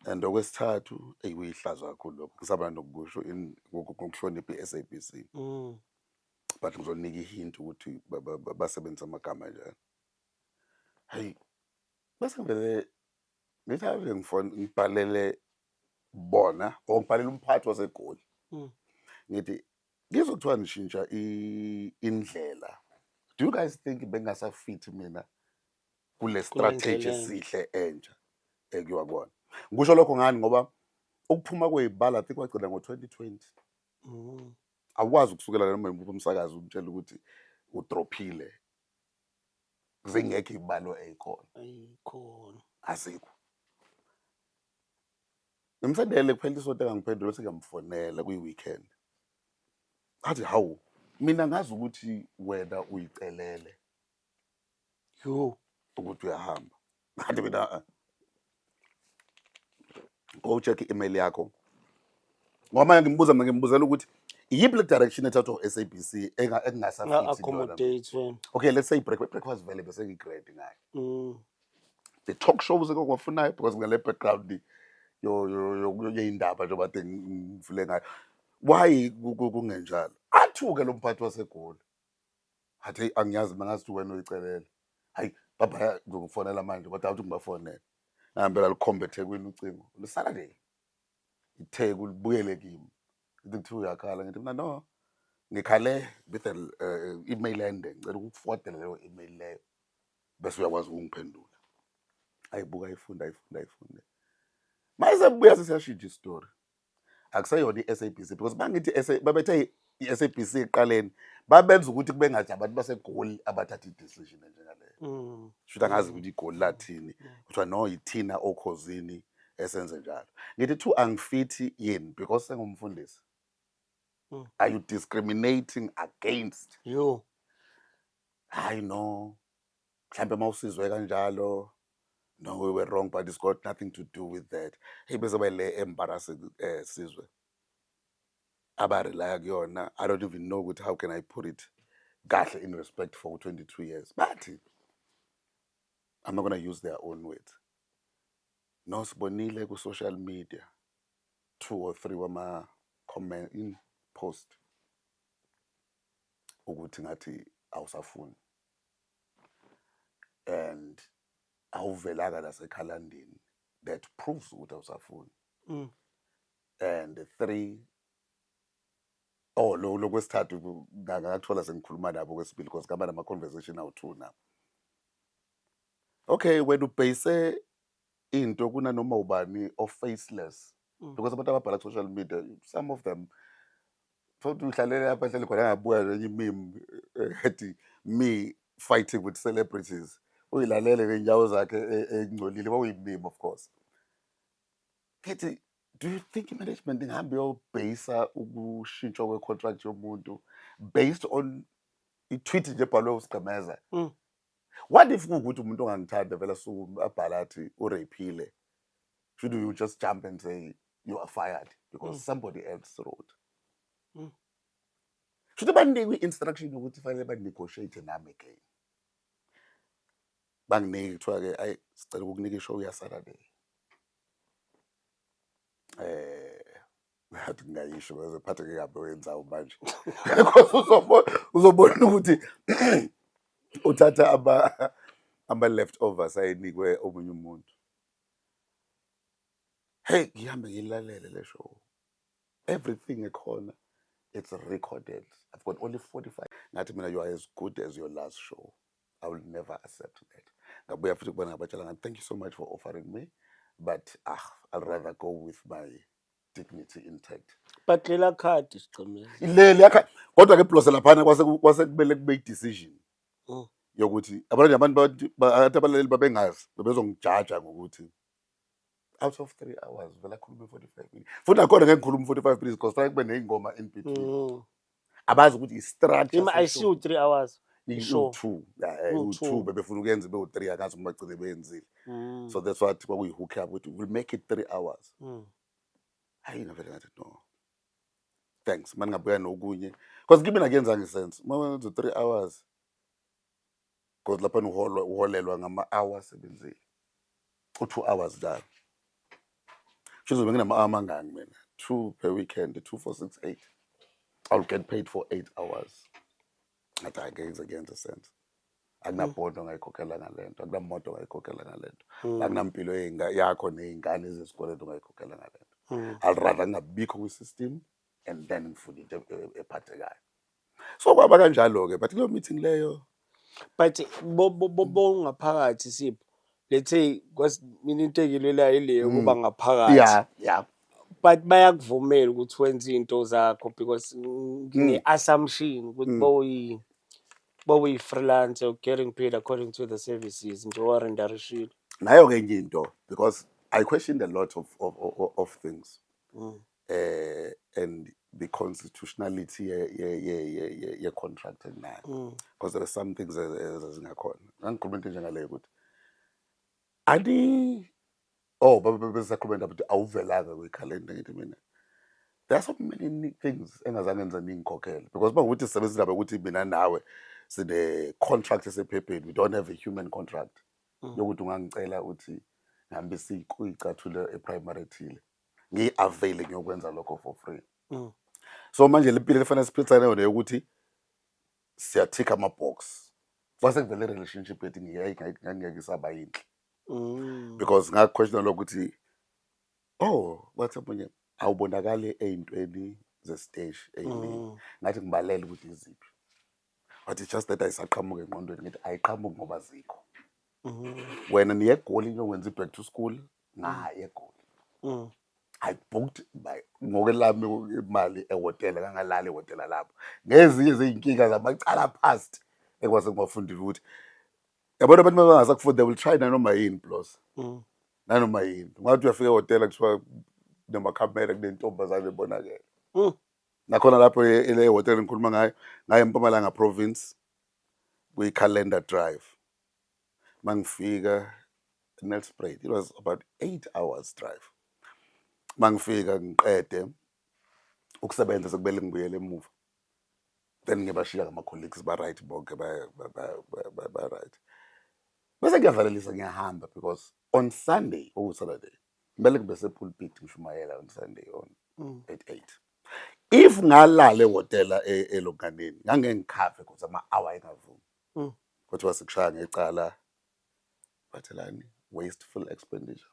and okwesithathu eyi kuyihlazo kakhulu lokho ngisaba nokusho in- ngoku- ngokuhlonipha i-sabc Mm. but ngizoninika ihint ukuthi basebenzisa amagama anjani hayi bese ngivele ngithi ave ngifona ngibhalele bona or ngibhalele umphathi wasegoli hmm. ngithi ngizokuthiwa nishintsha indlela do you guys think bengasafit mina kule strategy esihle entsha ekuyiwa kona ngisho lokho ngani ngoba ukuphuma kweyibala think wagcina ngo-2020 Mm. Awukwazi ukusukela noma yimuphi umsakazi umtshela ukuthi udrophile. Zingekho ibalo eyikhona. Ayikhona. Azikho. Ngimsendele kuphela isonto engangiphendula sengamfonela kwi-weekend. Athi hawu mina ngazi ukuthi wena uyicelele. yho ukuthi uyahamba kanti mina eh, go check i-email yakho ngoba manje ngimbuza mina ngimbuzela ukuthi iyiphi le direction ethathwa u-sabc enga- ekungasafithi into yona. nga-accommodate wena okay let's say break breakfast vele bese ngi-great ngayo Mm. the talk shows ekwafunayo because ngale background yo- yo- yo- yo- yeyindaba njengoba te ngifile ngayo why ku- ku- kungenjalo athuke lo mphathi wasegoli Hathi angiyazi mina ngazi ukuthi wena uyicelela. Hayi baba ngizokufonela manje kodwa awuthi ngibafonele. Ngihambela likhombe eThekwini ucingo. Lisala nje. ITheku libuyele kimi. Ithi kuthiwa uyakhala ngithi mina no. Ngikhale with an uh, email ende ngicela ukufodela leyo email leyo bese uyakwazi ukungiphendula. Ayibuka ifunda ifunda ifunde. Mayise buya sesiyashintsha istory. akuseyona i-sabc because bangithi babethe i-sabc ekuqaleni babenza ukuthi kube ngathi abantu basegoli abathatha i-decision enjengaleyo mm. shuthi angazi ukuthi igoli lathini mm. kuthiwa no yithina okhozini esenze njalo ngithi two angifithi yini because sengumfundisi mm. are you discriminating against you hayi no mhlawumbe uma usizwe kanjalo no we were wrong but it's got nothing to do with that hey bezoba le embarrass eh sizwe abarelaya kuyona i don't even know ukuthi how can i put it kahle in respect for 22 years but i'm not going to use their own words nosibonile ku-social media two or three wama-comment in post ukuthi ngathi awusafuni and awuvelanga nasekhalandini that proves ukuthi awusafuni mm. and three oh lo lokwesithathu ngakathola sengikhuluma nabo kwesibili because ngaba nama-conversation awu-two nabo okay wena ubheyise into kunanoma ubani o-faceless mm. because abantu ababhala ku-social media some of them thokuthi uhlalele lapha ehleli khona angabuya nenye imim eh, ethi me fighting with celebrities uyilalele ngey'nyawo zakhe e, engcolile kwakuyimim of course ngithi do you think i-management ingahambe yobheyisa ukushintshwa kwe-contract yomuntu based on i-tweet nje ebhalwe usigqemeza mm. what if kuwukuthi umuntu ongangithanda vele asuke abhale athi uraphile should you just jump and say you are fired because mm. somebody else wrote mm. shuthi bandinikwe i-instruction yokuthi fanele banegotiate nami again banginiki kuthiwa-ke ayi sicela ukukunika ishow yasaturday um eh, ngathi ngingayisho bese phatheke kabi oyenzayo manje because uzobona uzobona ukuthi uthatha aba ama leftovers ayinikwe omunye umuntu hey ngihambe ngilalele le show everything ekhona it's recorded i've got only 45 ngathi mina you are as good as your last show i will never accept that ngabuya futhi kubona ngabatshela ngathi thank you so much for offering me but ah i'll rather go with my dignity intact but lela card sigcimile leli yakha kodwa ke blose laphana kwase kwase kumele kube i-decision Mm. yokuthi abantu abantu bathi- ba- athi abalaleli babengazi bebezongijaja ngokuthi out of three hours vele akhulume 45 minutes futhi nakhona ngeke ngikhulume 45 minutes because fanele kube ney'ngoma in between Mm. abazi ukuthi i-structure Ima ICU seshow. 3 hours. Sure. Iwu-two. Yeah, eh, Iwu-two. iwu-two bebefuna ukuyenza ibewu-three akazi ukuthi bagcine beyenzile Mm. so that's what kwakuyi-hook up ukuthi we'll make it three hours Mm. hayi navele ngathi no thanks mani ngabuya nokunye because kimi nakuyenzanga isense uma wenza three hours because lapha uholwa uholelwa ngama hour asebenzile u 2 hours njalo Chizobe nginama hour mangaki mina 2 per weekend 2 for 6 8 I'll get paid for 8 hours ngathi angeke ngize kuyenze sense akunabhondo mm. ngayikhokhela ngalento akunamoto ngayikhokhela ngalento mm. akunampilo yakho nezingane zesikoleni ngayikhokhela ngalento mm. i'll rather ngabikho kwi system and then ngifuna into e- e- ephathekayo so kwaba kanjalo-ke but kuleyo meeting leyo but bo- bo- bo- bongaphakathi sipho let's say kwasi- mina into engilwelayo ileyo ukuba ngaphakathi ya ya but bayakuvumela ukuthi wenze into zakho because ngine-assumption ukuthi bowuyi bowuyi-freelancer you're getting paid according to the services nje owarendarishile nayo-ke enye into because i questioned a lot of, of, of, of things eh and the constitutionality ye ye ye ye, ye, ye contract nayo mm. because there are some things ezingakhona ngikhuluma into njengaleyo ukuthi ani oh baba besakhuluma indaba ukuthi awuvelanga kwikhalenda ngithi mina there are so many things engazange ngize ngikhokhele because bakuthi sisebenza indaba ukuthi mina nawe sine contract esephepheni we don't have a human contract mm. yokuthi ungangicela uthi ngihambe siyicathulo eprimary thile ngiyi-availe ngiyokwenza lokho for free mm. so manje le mpilo lefanele siphilisane yona yokuthi siyathikha ama-box kwase kuvele relationship yethu ngingeke isaba yinhle mm. because ngakuquestiona lokuthi oh wathi omunye awubonakali ey'ntweni zesiteshi ey'ningi mm. ngathi ngibalele ukuthi iziphi but it's just that ayisaqhamuki engqondweni ngithi ayiqhamuki ngoba zikho wena niye egoli niyokwenza i-back to school ngaye egoli Mm. i booked by ngokwelami imali ehhotela kangalali ehhotela lapho ngezinye zey'nkinga zamacala past ekwase ngibafundile ukuthi yabona abantu mabangasakufuni they will try nanoma yini plus Mm. nanoma yini ungathi uyafika ehhotela kuthiwa namakhamera kunentombazane ebonakele Mm. nakhona lapho e- ele hotel ngikhuluma ngayo ngaye empumalanga province kwi-calendar drive mangifika nelspruit it was about eight hours drive mangifika ngiqede ukusebenza sekumele ngibuyele emuva then ngiyabashiya ngama-colleagues ba-right bonke ba- ba- ba- ba- ba- ba-right bese ngiyavalelisa ngiyahamba because on sunday okuwusaturday kumele ngibe sepulpit ngishumayela on sunday on mm. at eight if ngalala ehhotela e, elonganeni ngangeke ngikhave cause ama-hour engavumi mm. kuthiwa sikushaya ngecala bathelani wasteful expenditure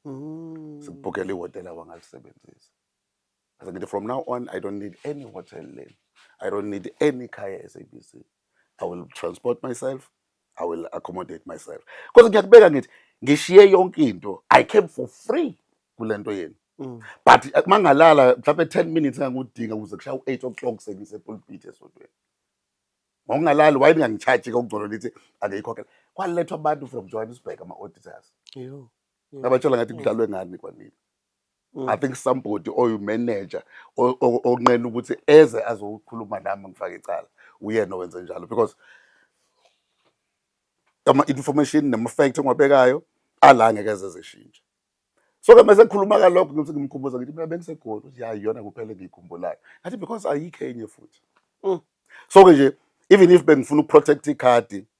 mm. sikubhukela ihhotela wangalisebenzisa Ngase ngithi from now on I don't need any hotel lane. I don't need any khaya SABC. I will transport myself. I will accommodate myself. Because ngiyakubeka ngithi ngishiye yonke into. I came for free kulento yenu. Mm. But eh, mangalala mhlawumbe 10 minutes engangudinga ukuze kushaya u8 o'clock sengise pulpit esodweni. Ngokungalali why ningangicharge kokugcono lithi akeyikhokhela. Kwalethwa abantu from Johannesburg ama auditors. Yho. Ngabatshela ngathi kudlalwe ngani kwanini. Mm. I think somebody oyu manager onqena ukuthi eze azokhuluma nami ngifake icala uyena owenze njalo because ama information nema fact engiwabekayo ala ngeke ezezishintshe so ke mase khuluma kalokho ngithi ngimkhumbuza ngithi mina bengisegoli uthi hayi yona kuphela ngiyikhumbulayo ngathi because ayikho enye futhi mm. so ke nje even if bengifuna ukuprotect icard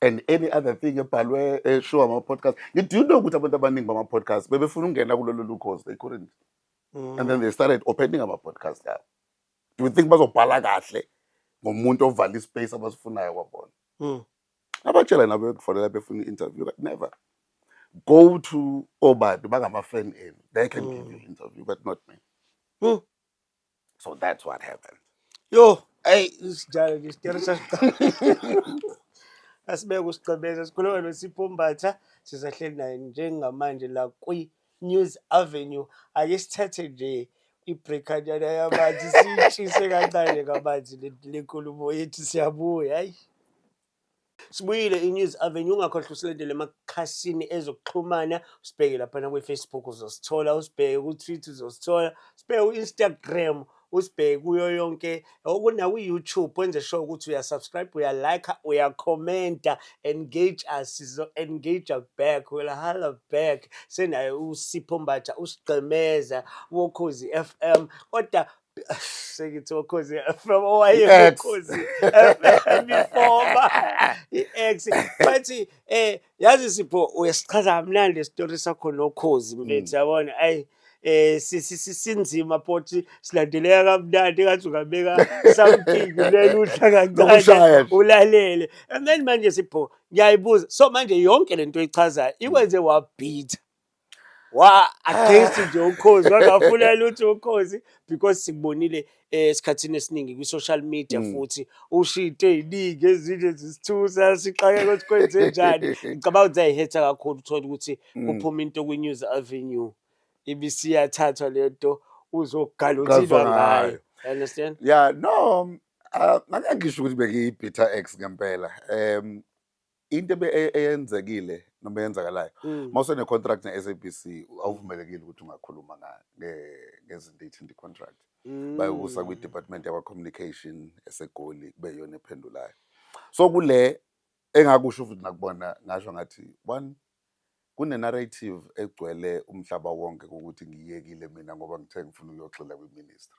and any other thing ebhalwe eshow eh, ama-podcast do you know ukuthi abantu abaningi bama-podcast bebefuna ukungena kulolu lukhozi they couldn't mm. and then they started opening ama-podcast abo do you think bazobhala kahle ngomuntu ovala ispace abasifunayo kwabona mm. abatshela nabo yokufonela befuna i-interview but never go to obani bangama-fan enu they can mm. give you mm. interview but not me mm. So that's what happened. Yo, hey, isijalo lesi tiyalo sasiqala. Asibeke usigqemeza sikhuluma noSipho Mbatha sisahleli naye njengamanje la kwi News Avenue. Ake sithathe nje ibreakanyana yamanzi siyishise kancane kamanzi le le nkulumo yethu siyabuya. Hayi. Sibuyile iNews Avenue ungakhohlwa usilandele emakhasini ezokuxhumana usibheke laphana kwi-Facebook uzosithola usibheke ku-Twitter uzosithola usibheke ku-Instagram usibheke kuyo yonke okuna-YouTube wenze sure ukuthi uyasubscribe uyalike uyakhomenta engage us sizo-engage back will hala back senaye usipho mbatha usigqemeza wokhozi f m kodwa sengithi okhozi FM owayekhozi FM ifoma i-ex bathi eh yazi sipho uyasichaza kamnandi isitori sakho nokhozi mfethu mm. yabona ayi eh sinzima phothi silandeleka kamnandi ngathi ungabeka something leli udla kancane ulalele and then manje sipho ngiyayibuza so manje yonke lento oyichazayo ikwenze wabhitha wa against nje ukhozi wangafuna lutho ukhozi because sikubonile eh, esikhathini esiningi kwi social media mm. futhi ushito eziningi ezinje zisithusa sixake ukuthi kwenze njani ngicabanga ukuthi ayihetha kakhulu uthola ukuthi mm. kuphuma into kwi news avenue ibisiyathathwa lento uzogalothilwa ngayo understand yeah no ah, ngeke ngisho ukuthi bengiyibhitter ex ngempela um into ebe- e- eyenzekile noma eyenzakalayo Mm. uma usenecontract ne-sabc awuvumelekile ukuthi ungakhuluma nga- nge- ngezinto eyithinta i-contract Mm. bayokusa kwi-department yakwa-communication esegoli kube yiyona ephendulayo so kule engakusho futhi nakubona ngasho ngathi one kune-narrative egcwele umhlaba wonke kokuthi ngiyekile mina ngoba ngithe ngifuna ukuyoxila kwi-ministry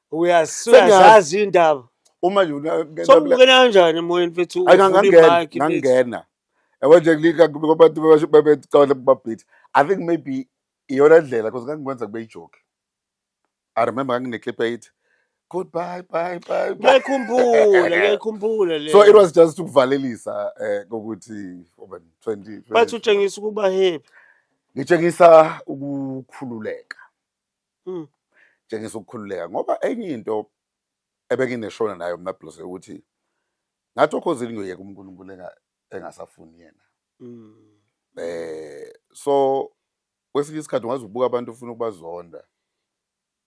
uyazazi iy'ndaba uma sombukela kanjani emoyeni fethu ngangena ewenje abantu bebecabana babhithi i think maybe iyona ndlela because ngangikwenza kube ijoki i remember ngangineclip eyithi goodbye bye bye ngiyayikhumbula ngiyayikhumbula le so it was just ukuvalelisa um kokuthi oben twenty bathi utshengisa ukuba happy ngitshengisa ukukhululeka mm. tshengisa ukukhululeka ngoba enye into ebengineshona nayo mna blose ukuthi ngathi okhozini ngiyoyeka unkulunkulu engasafuni yena mm. eh so kwesinye isikhathi ungaze ubuka abantu ufuna ukubazonda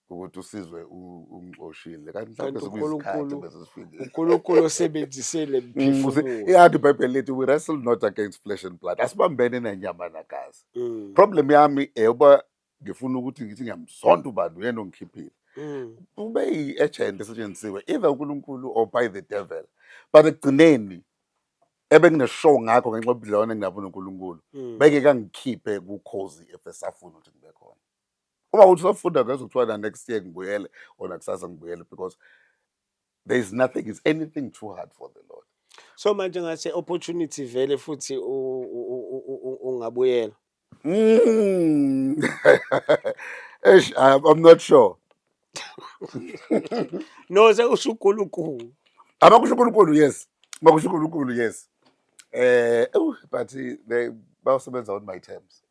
ukuthi usizwe ungixoshile kanti mhlawumbe sekuyisikhathi bese sifikile uNkulunkulu osebenzisele mphefumulo mm, iyathi ibhayibheli lithi we wrestle not against flesh and blood asibambene nenyama nagazi mm. problem yami eyoba ngifuna ukuthi ngithi ngiyamzonda ubani uyena ongikhiphile mm. ube yi-agent esetshenzisiwe either unkulunkulu or by the devil but ekugcineni ebengineshow ngakho ngenxa yobudlelwane enginabo nonkulunkulu mm. beke kangikhiphe kukhozi efesafuna ukuthi ngibe khona uma uthi usafunda ngezokuthiwa na next year ngibuyele ona kusasa ngibuyele because there is nothing is anything too hard for the lord so manje ngase opportunity vele futhi ungabuyela mm. eish i'm not sure no sekusho uNkulunkulu abakusho uNkulunkulu yes bakusho uNkulunkulu yes eh but they bayosebenza on my terms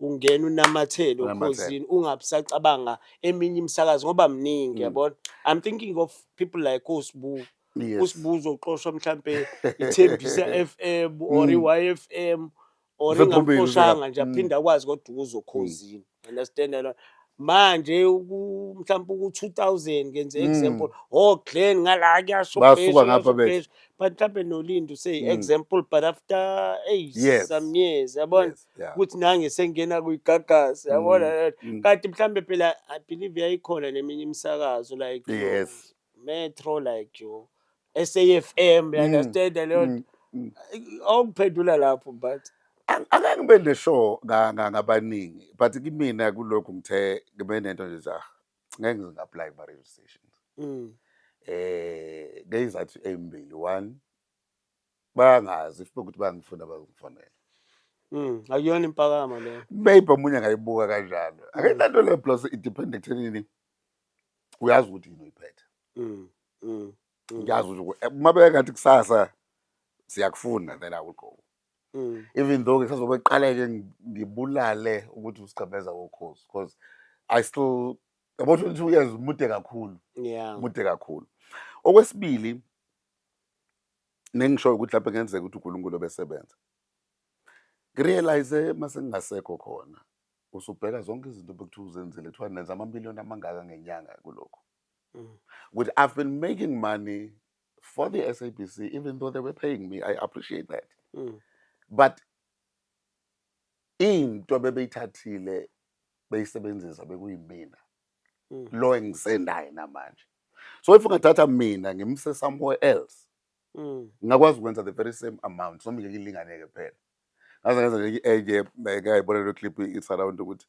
ungena unamathele okhozini ungabi sacabanga eminye imisakazi ngoba mningi mm. yabona i'm thinking of people like osibu yes. usibu uzoxoshwa mhlampe ithembisa f m or mm. i-y f m or ingamxoshanga nje mm. aphinde akwazi kodwa ukuzokhozini understand yalona manje mhlawumbe uku-2000 ngenze mm. example oh glen ngala kuyasho basuka ngapha bethu but mhlawumbe nolindo say mm. example but after eight yes. some years yabona yes. ukuthi nange sengena kuyigagasi mm, yabona mm. kanti mhlambe phela i believe yayikhona neminye imisakazo like yes metro like you SAFM you mm, understand leyo awukuphendula lapho but angeke ngibe neshow ngabaningi but kimina kulokhu ngithe ngibe nento nje za ngeke ngingapply kuma radio stations eh ngeyizathu ezimbili one bayangazi futhi ukuthi bangifuna bakungifonela Mm, akuyona impakama leyo. Maybe omunye angayibuka kanjalo. Akenanto le plus independent ekuthenini uyazi ukuthi yini uyiphethe. Mm. Mm. Ngiyazi mm. ukuthi eh, uma bekangathi kusasa siyakufunda then I will go. Mm. Even though ngisazobe qaleke ngibulale ukuthi usigcabeza kokhozi because I still yabo 22 years mude kakhulu. Yeah. Mude kakhulu. Okwesibili nengishoyo ukuthi lapho kungenzeka ukuthi uNkulunkulu obesebenza ngirealize mase ngingasekho khona usubheka zonke izinto bekuthiwa uzenzile kuthiwa nenza amamiliyoni amangaka ngenyanga kulokhu mm. ukuthi i've been making money for the sabc even though they were paying me i appreciate that mm. but into bebeyithathile beyisebenzisa bekuyimina mm. lo engisenaye namanje so if ungathatha mina ngimse somewhere else mm. ngingakwazi ukwenza the very same amount so ngeke ilinganeke phela ngaze ngenza nje enye eh, ngayibona lo clip it's around ukuthi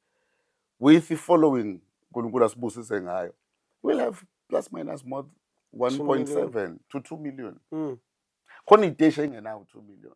with the following uNkulunkulu asibusise ngayo we'll have plus minus more 1.7 to 2 million mm. khona iteshi engenawo 2 million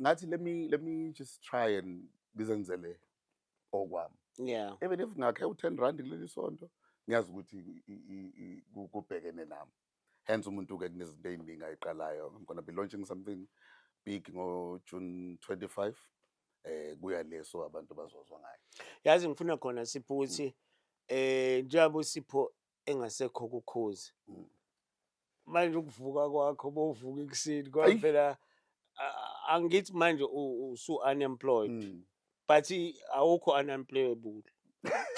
ngathi let me let me just try and ngizenzele okwami yeah even if ngakhe u10 rand kuleli sonto ngiyazi ukuthi kubhekene nami hence umuntu ke kunezinto eziningi ayiqalayo i'm going to be launching something big ngo June 25 eh kuya leso abantu bazozwa ngayo yazi ngifuna khona siphuthi mm. eh njengoba usipho engasekho kukhozi manje ukuvuka kwakho bovuka ekuseni ngoba Eyi. phela ah, angithi manje u- usu unemployed Mm. but awukho unemployable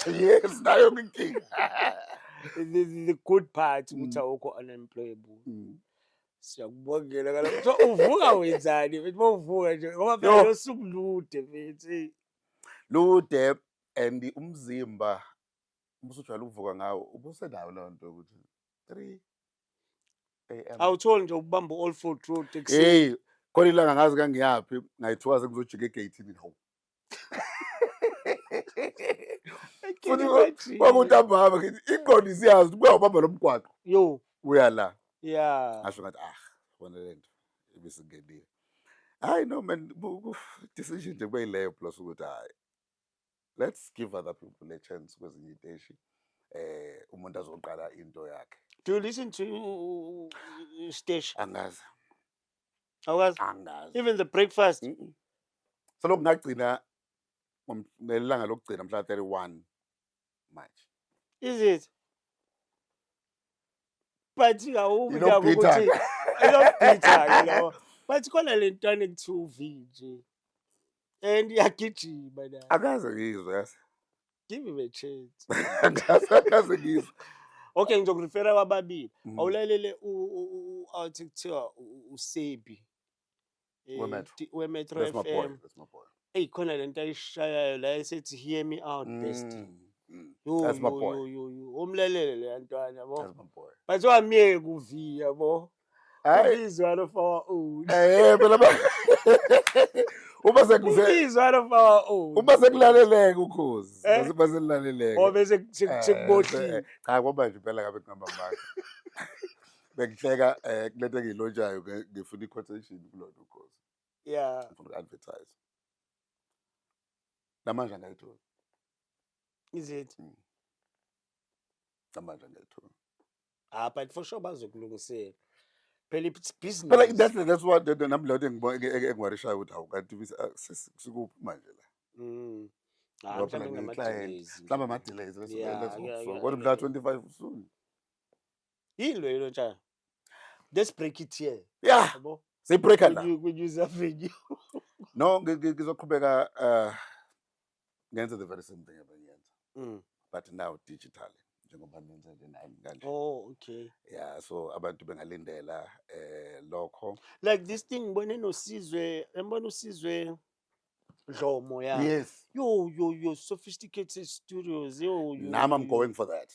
yes nayo inkinga the, the- the good part ukuthi Mm. awukho unemployable Mm. siyakubongela kala so uvuka wenzani mfethu uma uvuka nje ngoba phela Yo. losuku lude mfethu eyi. lude and umzimba ubusujwayele ukuvuka ngawo ubusenayo leyo nto yokuthi three am awutholi nje ukubamba u-all for truth ekuseni heyi khona ilanga ngazi kangiyaphi ngayithiwa sengizojika egeyithini hawu futhi kwakuthi ambahamba ngithi ingqondo isiyazi ukuthi kuyawubamba lo mgwaqo yo uya la ya ngasho ngathi ah bona le nto ibisingenile hayi no man bu- bu- decision nje kubeyileyo plus ukuthi hayi let's give other people a chance kwezinye iteshi eh umuntu azoqala into yakhe do you listen to stage angazi awukazi angazi even the breakfast mm -mm. so lokungagcina ngelanga lokugcina mhla 31 March is it but awubi nabo ukuthi ilobhitha ke lawo but khona lentwana ekuthiwa uvi nje and iyagijima nayo akaze ngizwe yazi give him a chance akaze akaze ngizwe okay ngizokurefera kwababili Mm. awulalele u- u- u- u- athi kuthiwa u- u- usebi eh, WeMetro. di- wemetro that's my boy fm that's my boy eyi khona le nto ayishayayo la esethi hear me out best Mm, mm. Yo, That's my yo, boy. yo, yo, yo. umlalele leya ntwana bo that's my boy bathiwa myeke uviya bo hayi izwa lo fawa u eh phela uma sekuze izwa lo fawa u uma sekulaleleke ukhozi eh? uma sekulaleleke o oh, bese eh, sekubohlile eh, cha kwaba nje phela ngabe kuhamba manje bengihleka eh kulento engilonjayo ngifuna i-quotation kulona ukhozi yeah ngifuna uku-advertise namanje angayithola izithi mm. namanje angayithola ah but for sure bazokulungisela phela it's Phela business that's that's what that- nami leyo engibona engiwarishayo ukuthi hawu kanti bis- ah, sis- sikuphi manje la. Mm. Ah, Ngoba phela mhlawumbe ngiyi-client. ngama-delays. Mhlawumbe ama delays let's Yeah, let's hope yeah, so. yeah, Kodwa mhla yeah. 25 soon. yini leyo lotshana let's break it here Yeah, yabo siyibreaker la. Kwenye- kwenye uzavenue. No ngi- ngi- ngizoqhubeka uh ngenze the very same thing ebengiyenza mm. but now digital njengoba nenza nje nami kanje oh okay yeah so abantu bengalindela eh lokho like this thing ngibone nosizwe ngibona usizwe Dlomo yeah yes yo yo yo sophisticated studios yo yo nami i'm going for that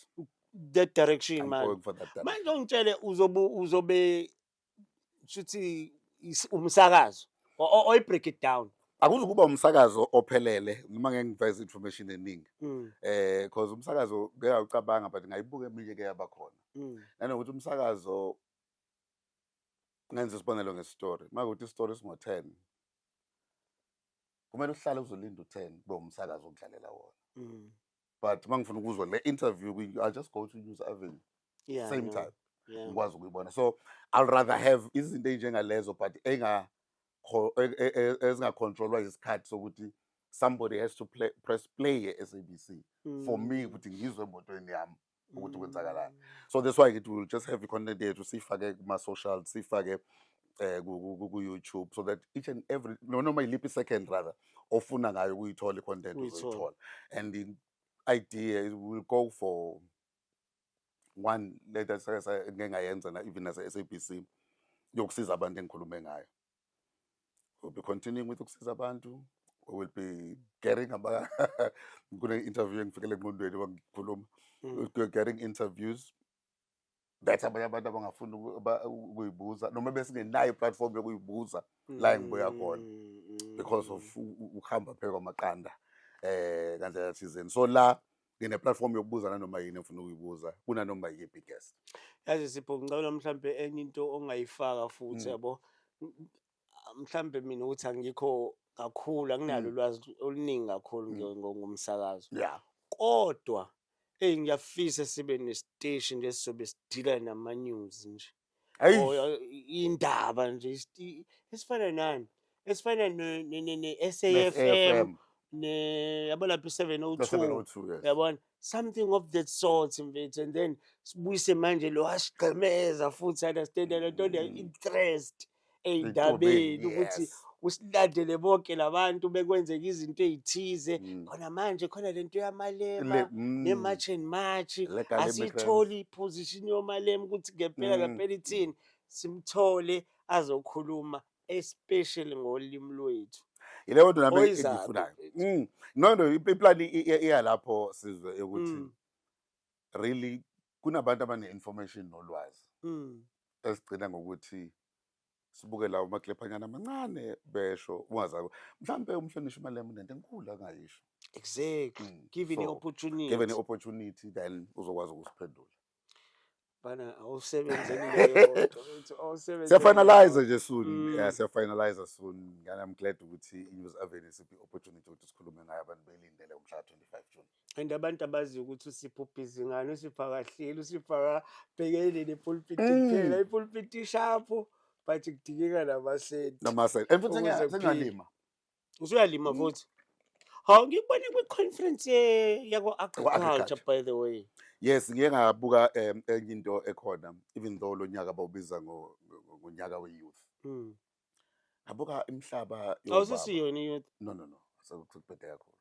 that direction I'm man going for that direction. manje ungitshele uzobe uzobe shuthi umsakazo oyi break it down akuzukuba umsakazo ophelele noma ngeke ngiveze information eningi mm. eh because umsakazo ngeke awucabanga but ngayibuka eminye ke yabakhona mm. nanokuthi umsakazo ngenza isibonelo ngestory makuthi istory singo 10 kumele uhlale uzolinda u10 kube umsakazo okudlalela wona mm. but uma ngifuna ukuzwa le interview i just go to news avenue yeah, same no. time yeah. ngikwazi ukuyibona so i'll rather have izinto ey'njengalezo but e, e, ezingacontrolwa isikhathi sokuthi somebody has to play, press play e-sabc mm. for me mm. ukuthi ngizwe emotweni yami ukuthi kwenzakalani mm. so that's why ngithi will just have i-content yethu siyifake kuma-social siyifake eh ku YouTube so that each and every no noma iliphi second rather ofuna ngayo ukuyithola icontent uzoyithola and the idea it will go for one let us say ngeke ngayenza na even as SABC yokusiza abantu engikhulume ngayo we'll be continuing with ukusiza abantu we will be getting about kune interview engifikele eqondweni wangikhuluma mm. we'll be getting interviews bethi abanye abantu abangafuni ukuyibuza noma besingenayo iplatform yokuyibuza la engibuya khona mm, because of mm. ukuhamba phela kwamaqanda eh kandlela thizeni so la ngine-platform yokubuza nanoma yini efuna ukuyibuza kunanoma yiphi guest yazi sipho ngicabela mhlawumbe enye into ongayifaka futhi mm. yabo mhlambe mina ukuthi angikho kakhulu anginalo mm. ulwazi oluningi kakhulu mm. ngomsakazo yeah kodwa eyi ngiyafisa sibe nesiteshi nje sizobe sidila nama-news nje indaba nje esifana nani esifana ne-safm yabo lapho i-seven o oh two oh yabona something of that sort mfethu and then sibuyise manje lo asigqemeza futhi understand le nto mm. interest ey'ndabeni ukuthi usilandele bonke labantu bekwenzeka izinto ey'thize mm. khona manje khona le nto yamalema mm. ne-march and march asiyitholi iposition yomalema ukuthi ngempela mm. ngempela ithini simthole azokhuluma especially ngolimi lwethu yileyo nto nami engiyifunayo no no iplani iyalapho sizwe yokuthi really kunabantu abane-information nolwazi Mm. esigcina ngokuthi sibuke lawo maklephanyana amancane besho ungazako mhlawumbe umhlonishwa imalema unento enkulu angayisho Exactly. Mm, Given the so, opportunity. given i-opportunity then uzokwazi ukusiphendula Bana awusebenzeni leyo nto, uthi awusebenzeni siyafinalize leyo. nje soon Mm. yeah siyafinalize soon ngani i'm glad ukuthi i-news avenue siphi i-opportunity ukuthi sikhulume ngayo abantu belindele umhla 25 june and abantu abaziyo ukuthi usipha ubhizi ngani usipha kahleli usipha kabhekeleni epulpiti mm. kuphela ipulpiti ishapho but kudingeka namasenti namasenti and futhi sengalima usuyalima mm. futhi hawu ngikubone kwi-conference yakwa-agriculture by the way yes ngike ngabuka um enye into ekhona even though lo nyaka bawubiza ngonyaka we-youth mm. Ngabuka imhlaba yobaba. Awusisiyo yini youth? No no no. Sekuphethe kakhulu.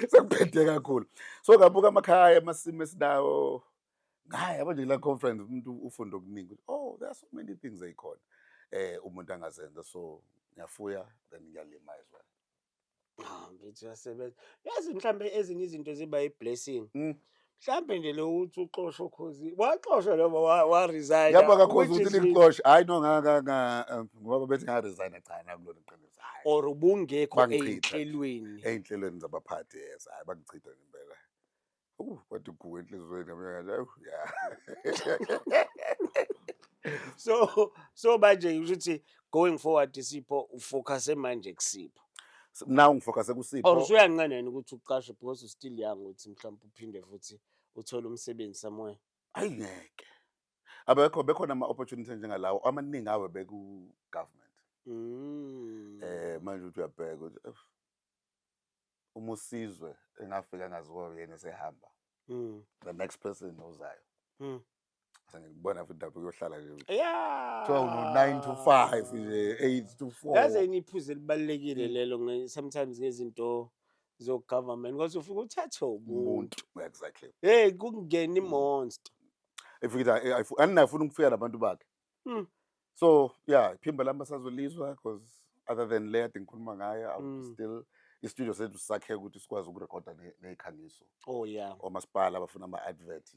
Sekuphethe kakhulu. So ngabuka amakhaya amasimo esinawo. Ngayi yabo nje la conference umuntu ufunda okuningi. Oh, there are so many things ezikhona. Eh umuntu angazenza so ngiyafuya then ngiyalima as well. Hawu mfethu uyasebenza. Yazi mhlambe ezinye izinto ziba i-blessing. Mm. Mhlambe nje lo uthi uxoshwa ukhozi. Waxoshwa lo wa wa resign. Yabo akakhoza ukuthi likuxoshe. Hayi no ngaka nga um, ngoba bethi nga resign cha nakulona iqiniso. Hayi. or ubungekho Bangichitha. eyinhlelweni. Eyinhlelweni zabaphathi yes hayi bangichitha ngempela. Uh, kwathi gugu enhliziyweni yami yathi, "Awu, ya." so so manje ngisho ukuthi going forward sipho ufocuse manje kusipho now ngifocuse or kusipho usuyanqena yini ukuthi uqashe because u still young ukuthi mhlawumbe uphinde futhi uthole umsebenzi somewhere ayi ngeke abekho bekhona ama-opportunity njengalawo amaningi awe beku-government Mm. um manje uthi uyabheka ukuthi "Uf, uma usizwe engafika angaziwa yena esehamba mm. the next person ozayo mm. sengikubona futhi lapho kuyohlala nje kuthiwa uno-nine to five nje eight to four yaze niphuze elibalulekile mm. lelo sometimes ngezinto zogovernment because ufike uthathe umuntu exactly hey kungena imonster mm. ifika andinafuna ukufika nabantu bakhe Mm. so yeah iphimbo lami basazolizwa because other than le ade ngikhuluma ngayo I would Mm. still istudio sethu sakhe ukuthi sikwazi ukurekhoda ne- ney'khangiso Oh yeah. omasipala abafuna ama-advert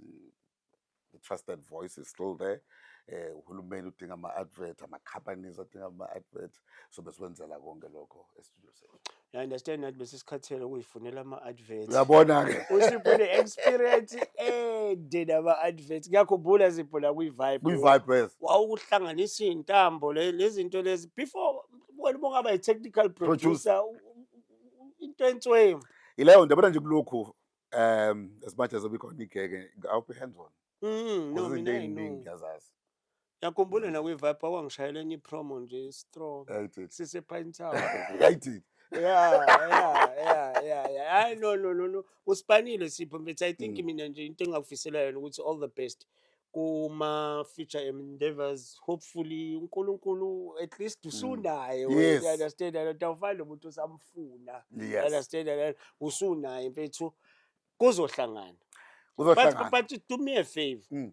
the trusted voice is still there eh uhulumeni udinga ama-advert ama-companies adinga ama-advert so besikwenzela konke lokho estudio sethu I understand that besisikhathele ukuyifunela ama-advert Uyabona-ke. usipho ne-experience ende nama-advert ngiyakhumbula zipho la kwi-vibe Kwi-vibe yes. wawukuhlanganisa iy'ntambo le- lezinto lezi before wena uma ungaba yi-technical producer u- u- u- into entswemu Yileyo nto yabona nje kulokhu um as much as obikhona igeke I'll be hands on. Mm, no, Kuzizinto mina I ey'ningi know. ngiyazazi. Ngiyakhumbula na kwi vibe kwangishayela enye promo nje strong. Yayithini? Sise Pine Town. Yayithini? Yeah, yeah, yeah, yeah, yeah. Hayi no no no no. Usipanile sipho mfethu. I think mina nje into engakufisela yona ukuthi all the best kuma future endeavors. Hopefully uNkulunkulu at least usunaye. Mm. Yes. You understand? And awufani nomuntu usamfuna. You Yes. understand? And usunaye mfethu. Kuzohlangana. But, Kuzohlangana. but do me a favor. Mm.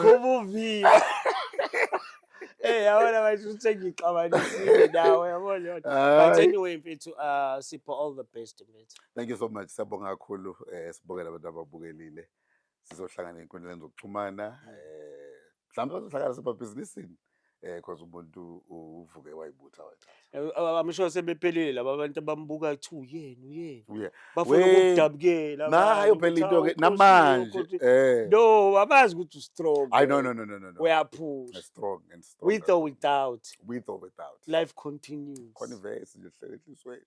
Kubuviyo. Eh yabona manje usengixabanisile nawe yabona yona. But anyway mfethu uh sipho all the best mfethu. Thank you so much. Siyabonga kakhulu eh sibongela abantu ababukelile. Sizohlangana enkundleni zokuxhumana eh mhlawumbe bazohlangana sebabhizinisini. eh cause umuntu uvuke wayibutha wayithatha amsho sebephelile laba abantu abambuka athi uyena uyena bafuna ukudabukela nayo phela into ke namanje eh no abazi ukuthi strong i no no no no no uyaphusha strong and strong with or without with or without life continues khona ivesi nje hlele hlisweni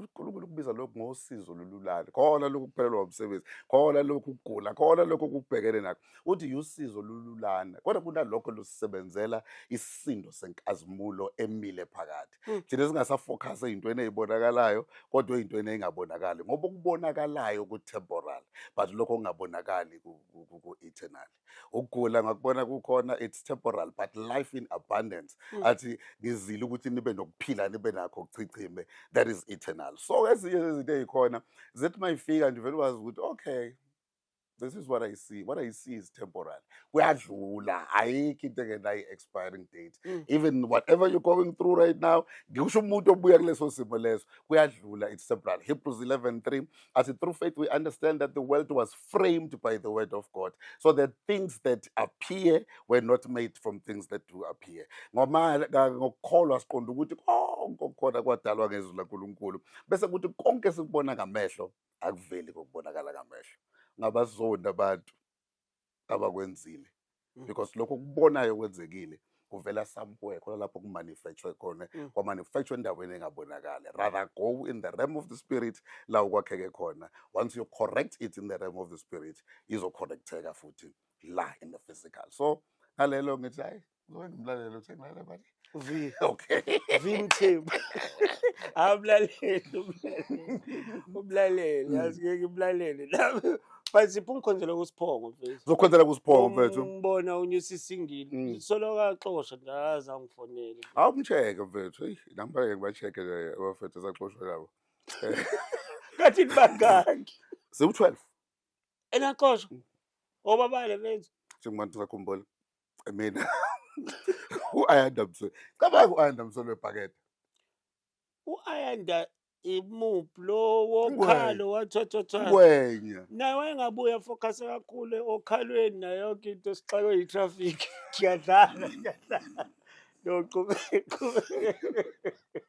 uNkulunkulu ukubiza lokhu ngosizo lululane khona lokhu kuphelelwa umsebenzi khona lokhu kugula khona lokhu kubhekene nakho uthi yusizo lululane kodwa kunalokho lusebenzela isindo senkazimulo emile phakathi hmm. thina singasafocus eyintweni ezibonakalayo kodwa eyintweni engabonakali ngoba ukubonakalayo ku temporal but lokho kungabonakali ku eternal ukugula ngakubona kukhona it's temporal but life in abundance mm. athi ngizile ukuthi nibe nokuphila nibe nakho kuchichime that is eternal so ezinye zezinto ezikhona zithi mayifika nje vele wazi ukuthi okay this is what i see what i see is temporal kuyadlula ayikho into engenayo expiring date mm. even whatever you're going through right now ngisho umuntu obuya kuleso simo leso kuyadlula it's temporal hebrews 11 3 As through faith, we understand that the world was framed by the word of God. So the things that appear were not made from things that do appear. ngokukholwa siqonda ukuthi konke okukhona kwadalwa ngezwi laNkulunkulu. Bese kuthi konke esikubona ngamehlo akuveli kokubonakala ngamehlo. Ngabazonda abantu. abakwenzile mm. because lokho kubonayo kwenzekile kuvela somewhere khona lapho kumanufacture khona mm. kwamanufacture endaweni engabonakali rather go in the realm of the spirit la ukwakheke khona once you correct it in the realm of the spirit izocorrecteka futhi la in the physical so ngalelo ngithi hayi Uzokwenza umlaleli uthe ngilalela manje. Vi. Okay. Vi Mthembu. Awumlaleli umlaleli. Umlaleli, yazi ngeke umlaleli. Nami but sipha ungikhonzela kusiphongo mfethu. Zokhonzela kusiphongo mfethu. Umbona unyusa isingili. Mm. Soloka axosha nje aza angifonele. Awumcheke mfethu. Hey, nami bake ngibacheke nje abafethu esaxoshwa labo. Kathi bangaki? Siwu-12. Enaxoshwa. Obabale mfethu. Njengoba sakhumbula. mina u-ayanda msolo cabanga u-ayanda msolo webhakede u-ayanda imuphi lo wokhalo wathothotha ngwenya naye wayengabuya focus kakhulu okhalweni nayo yonke into sixakwe yi-traffic kuyadlala kuyadlala noqhubeka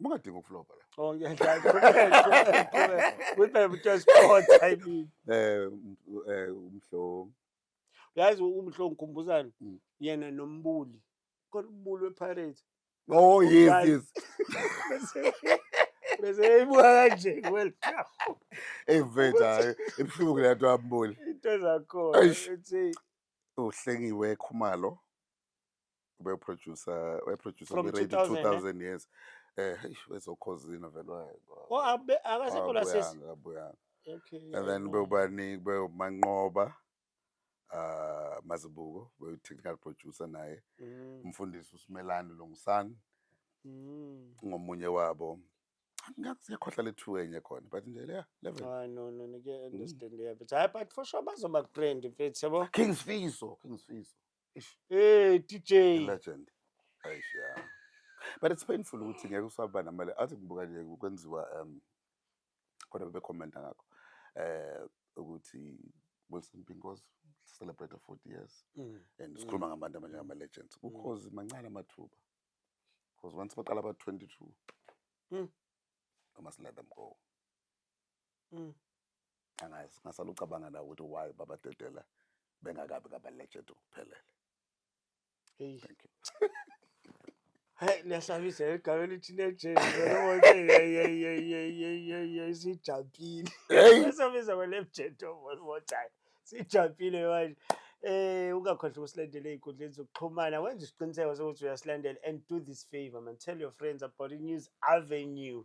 Ungadinga ukuflopa la. Oh ngiyadlala. With the just sport I mean. Eh eh umhlo. Yazi umhlo ngikhumbuzana mm. yena nombuli. Kodwa umbuli wePirates. Oh yes yes. Bese eyibuka kanje well. Hey mfethu hayi ibuhlungu le nto ambuli. Into zakho. Uthi uhlengiwe khumalo. beproducer weproducer From kwi-radio 2000, eh? 2000 years eh hey wezokhozina vele waye Oh, abe- akasekho la sesi. Akabuyanga, akabuyanga. Okay. and then ayibona. bewubaningi bewumanqoba uh mazibuko bewu-technical producer naye Mm, umfundisi usimelani lungsani mm. ngomunye wabo ngakuyakhohla lethu enye khona but nje leya level Ah, no, no, nike understand yeah, but hayi, but for sure bazoba grand mfethu yabo. king sifiso king sifiso Eish, Hey DJ. legend. Eish, yeah. But it's painful ukuthi ngeke usaba namali. Athi ngibuka nje kwenziwa um kodwa bebe comment ngakho. Eh ukuthi Wilson Pinko's celebrate 40 years Mm. and sikhuluma ngabantu abanye ama legends. Ukhozi mancane amathuba. Because once baqala ba 22. Mm. I must let them go. Mm. Angazi ngasala ucabanga na ukuthi why baba Dedela bengakabi ngaba legend ukuphelele. Hey. Thank you. Hey liyasabisa igama elithi legend sijampile. Liyasabisa kwa legend one more time. Sijampile manje. Eh ungakhohlwa ukusilandela ezinkundleni zokuxhumana wenza isiqiniseko sokuthi uyasilandela and do this favor man tell your friends about the news avenue.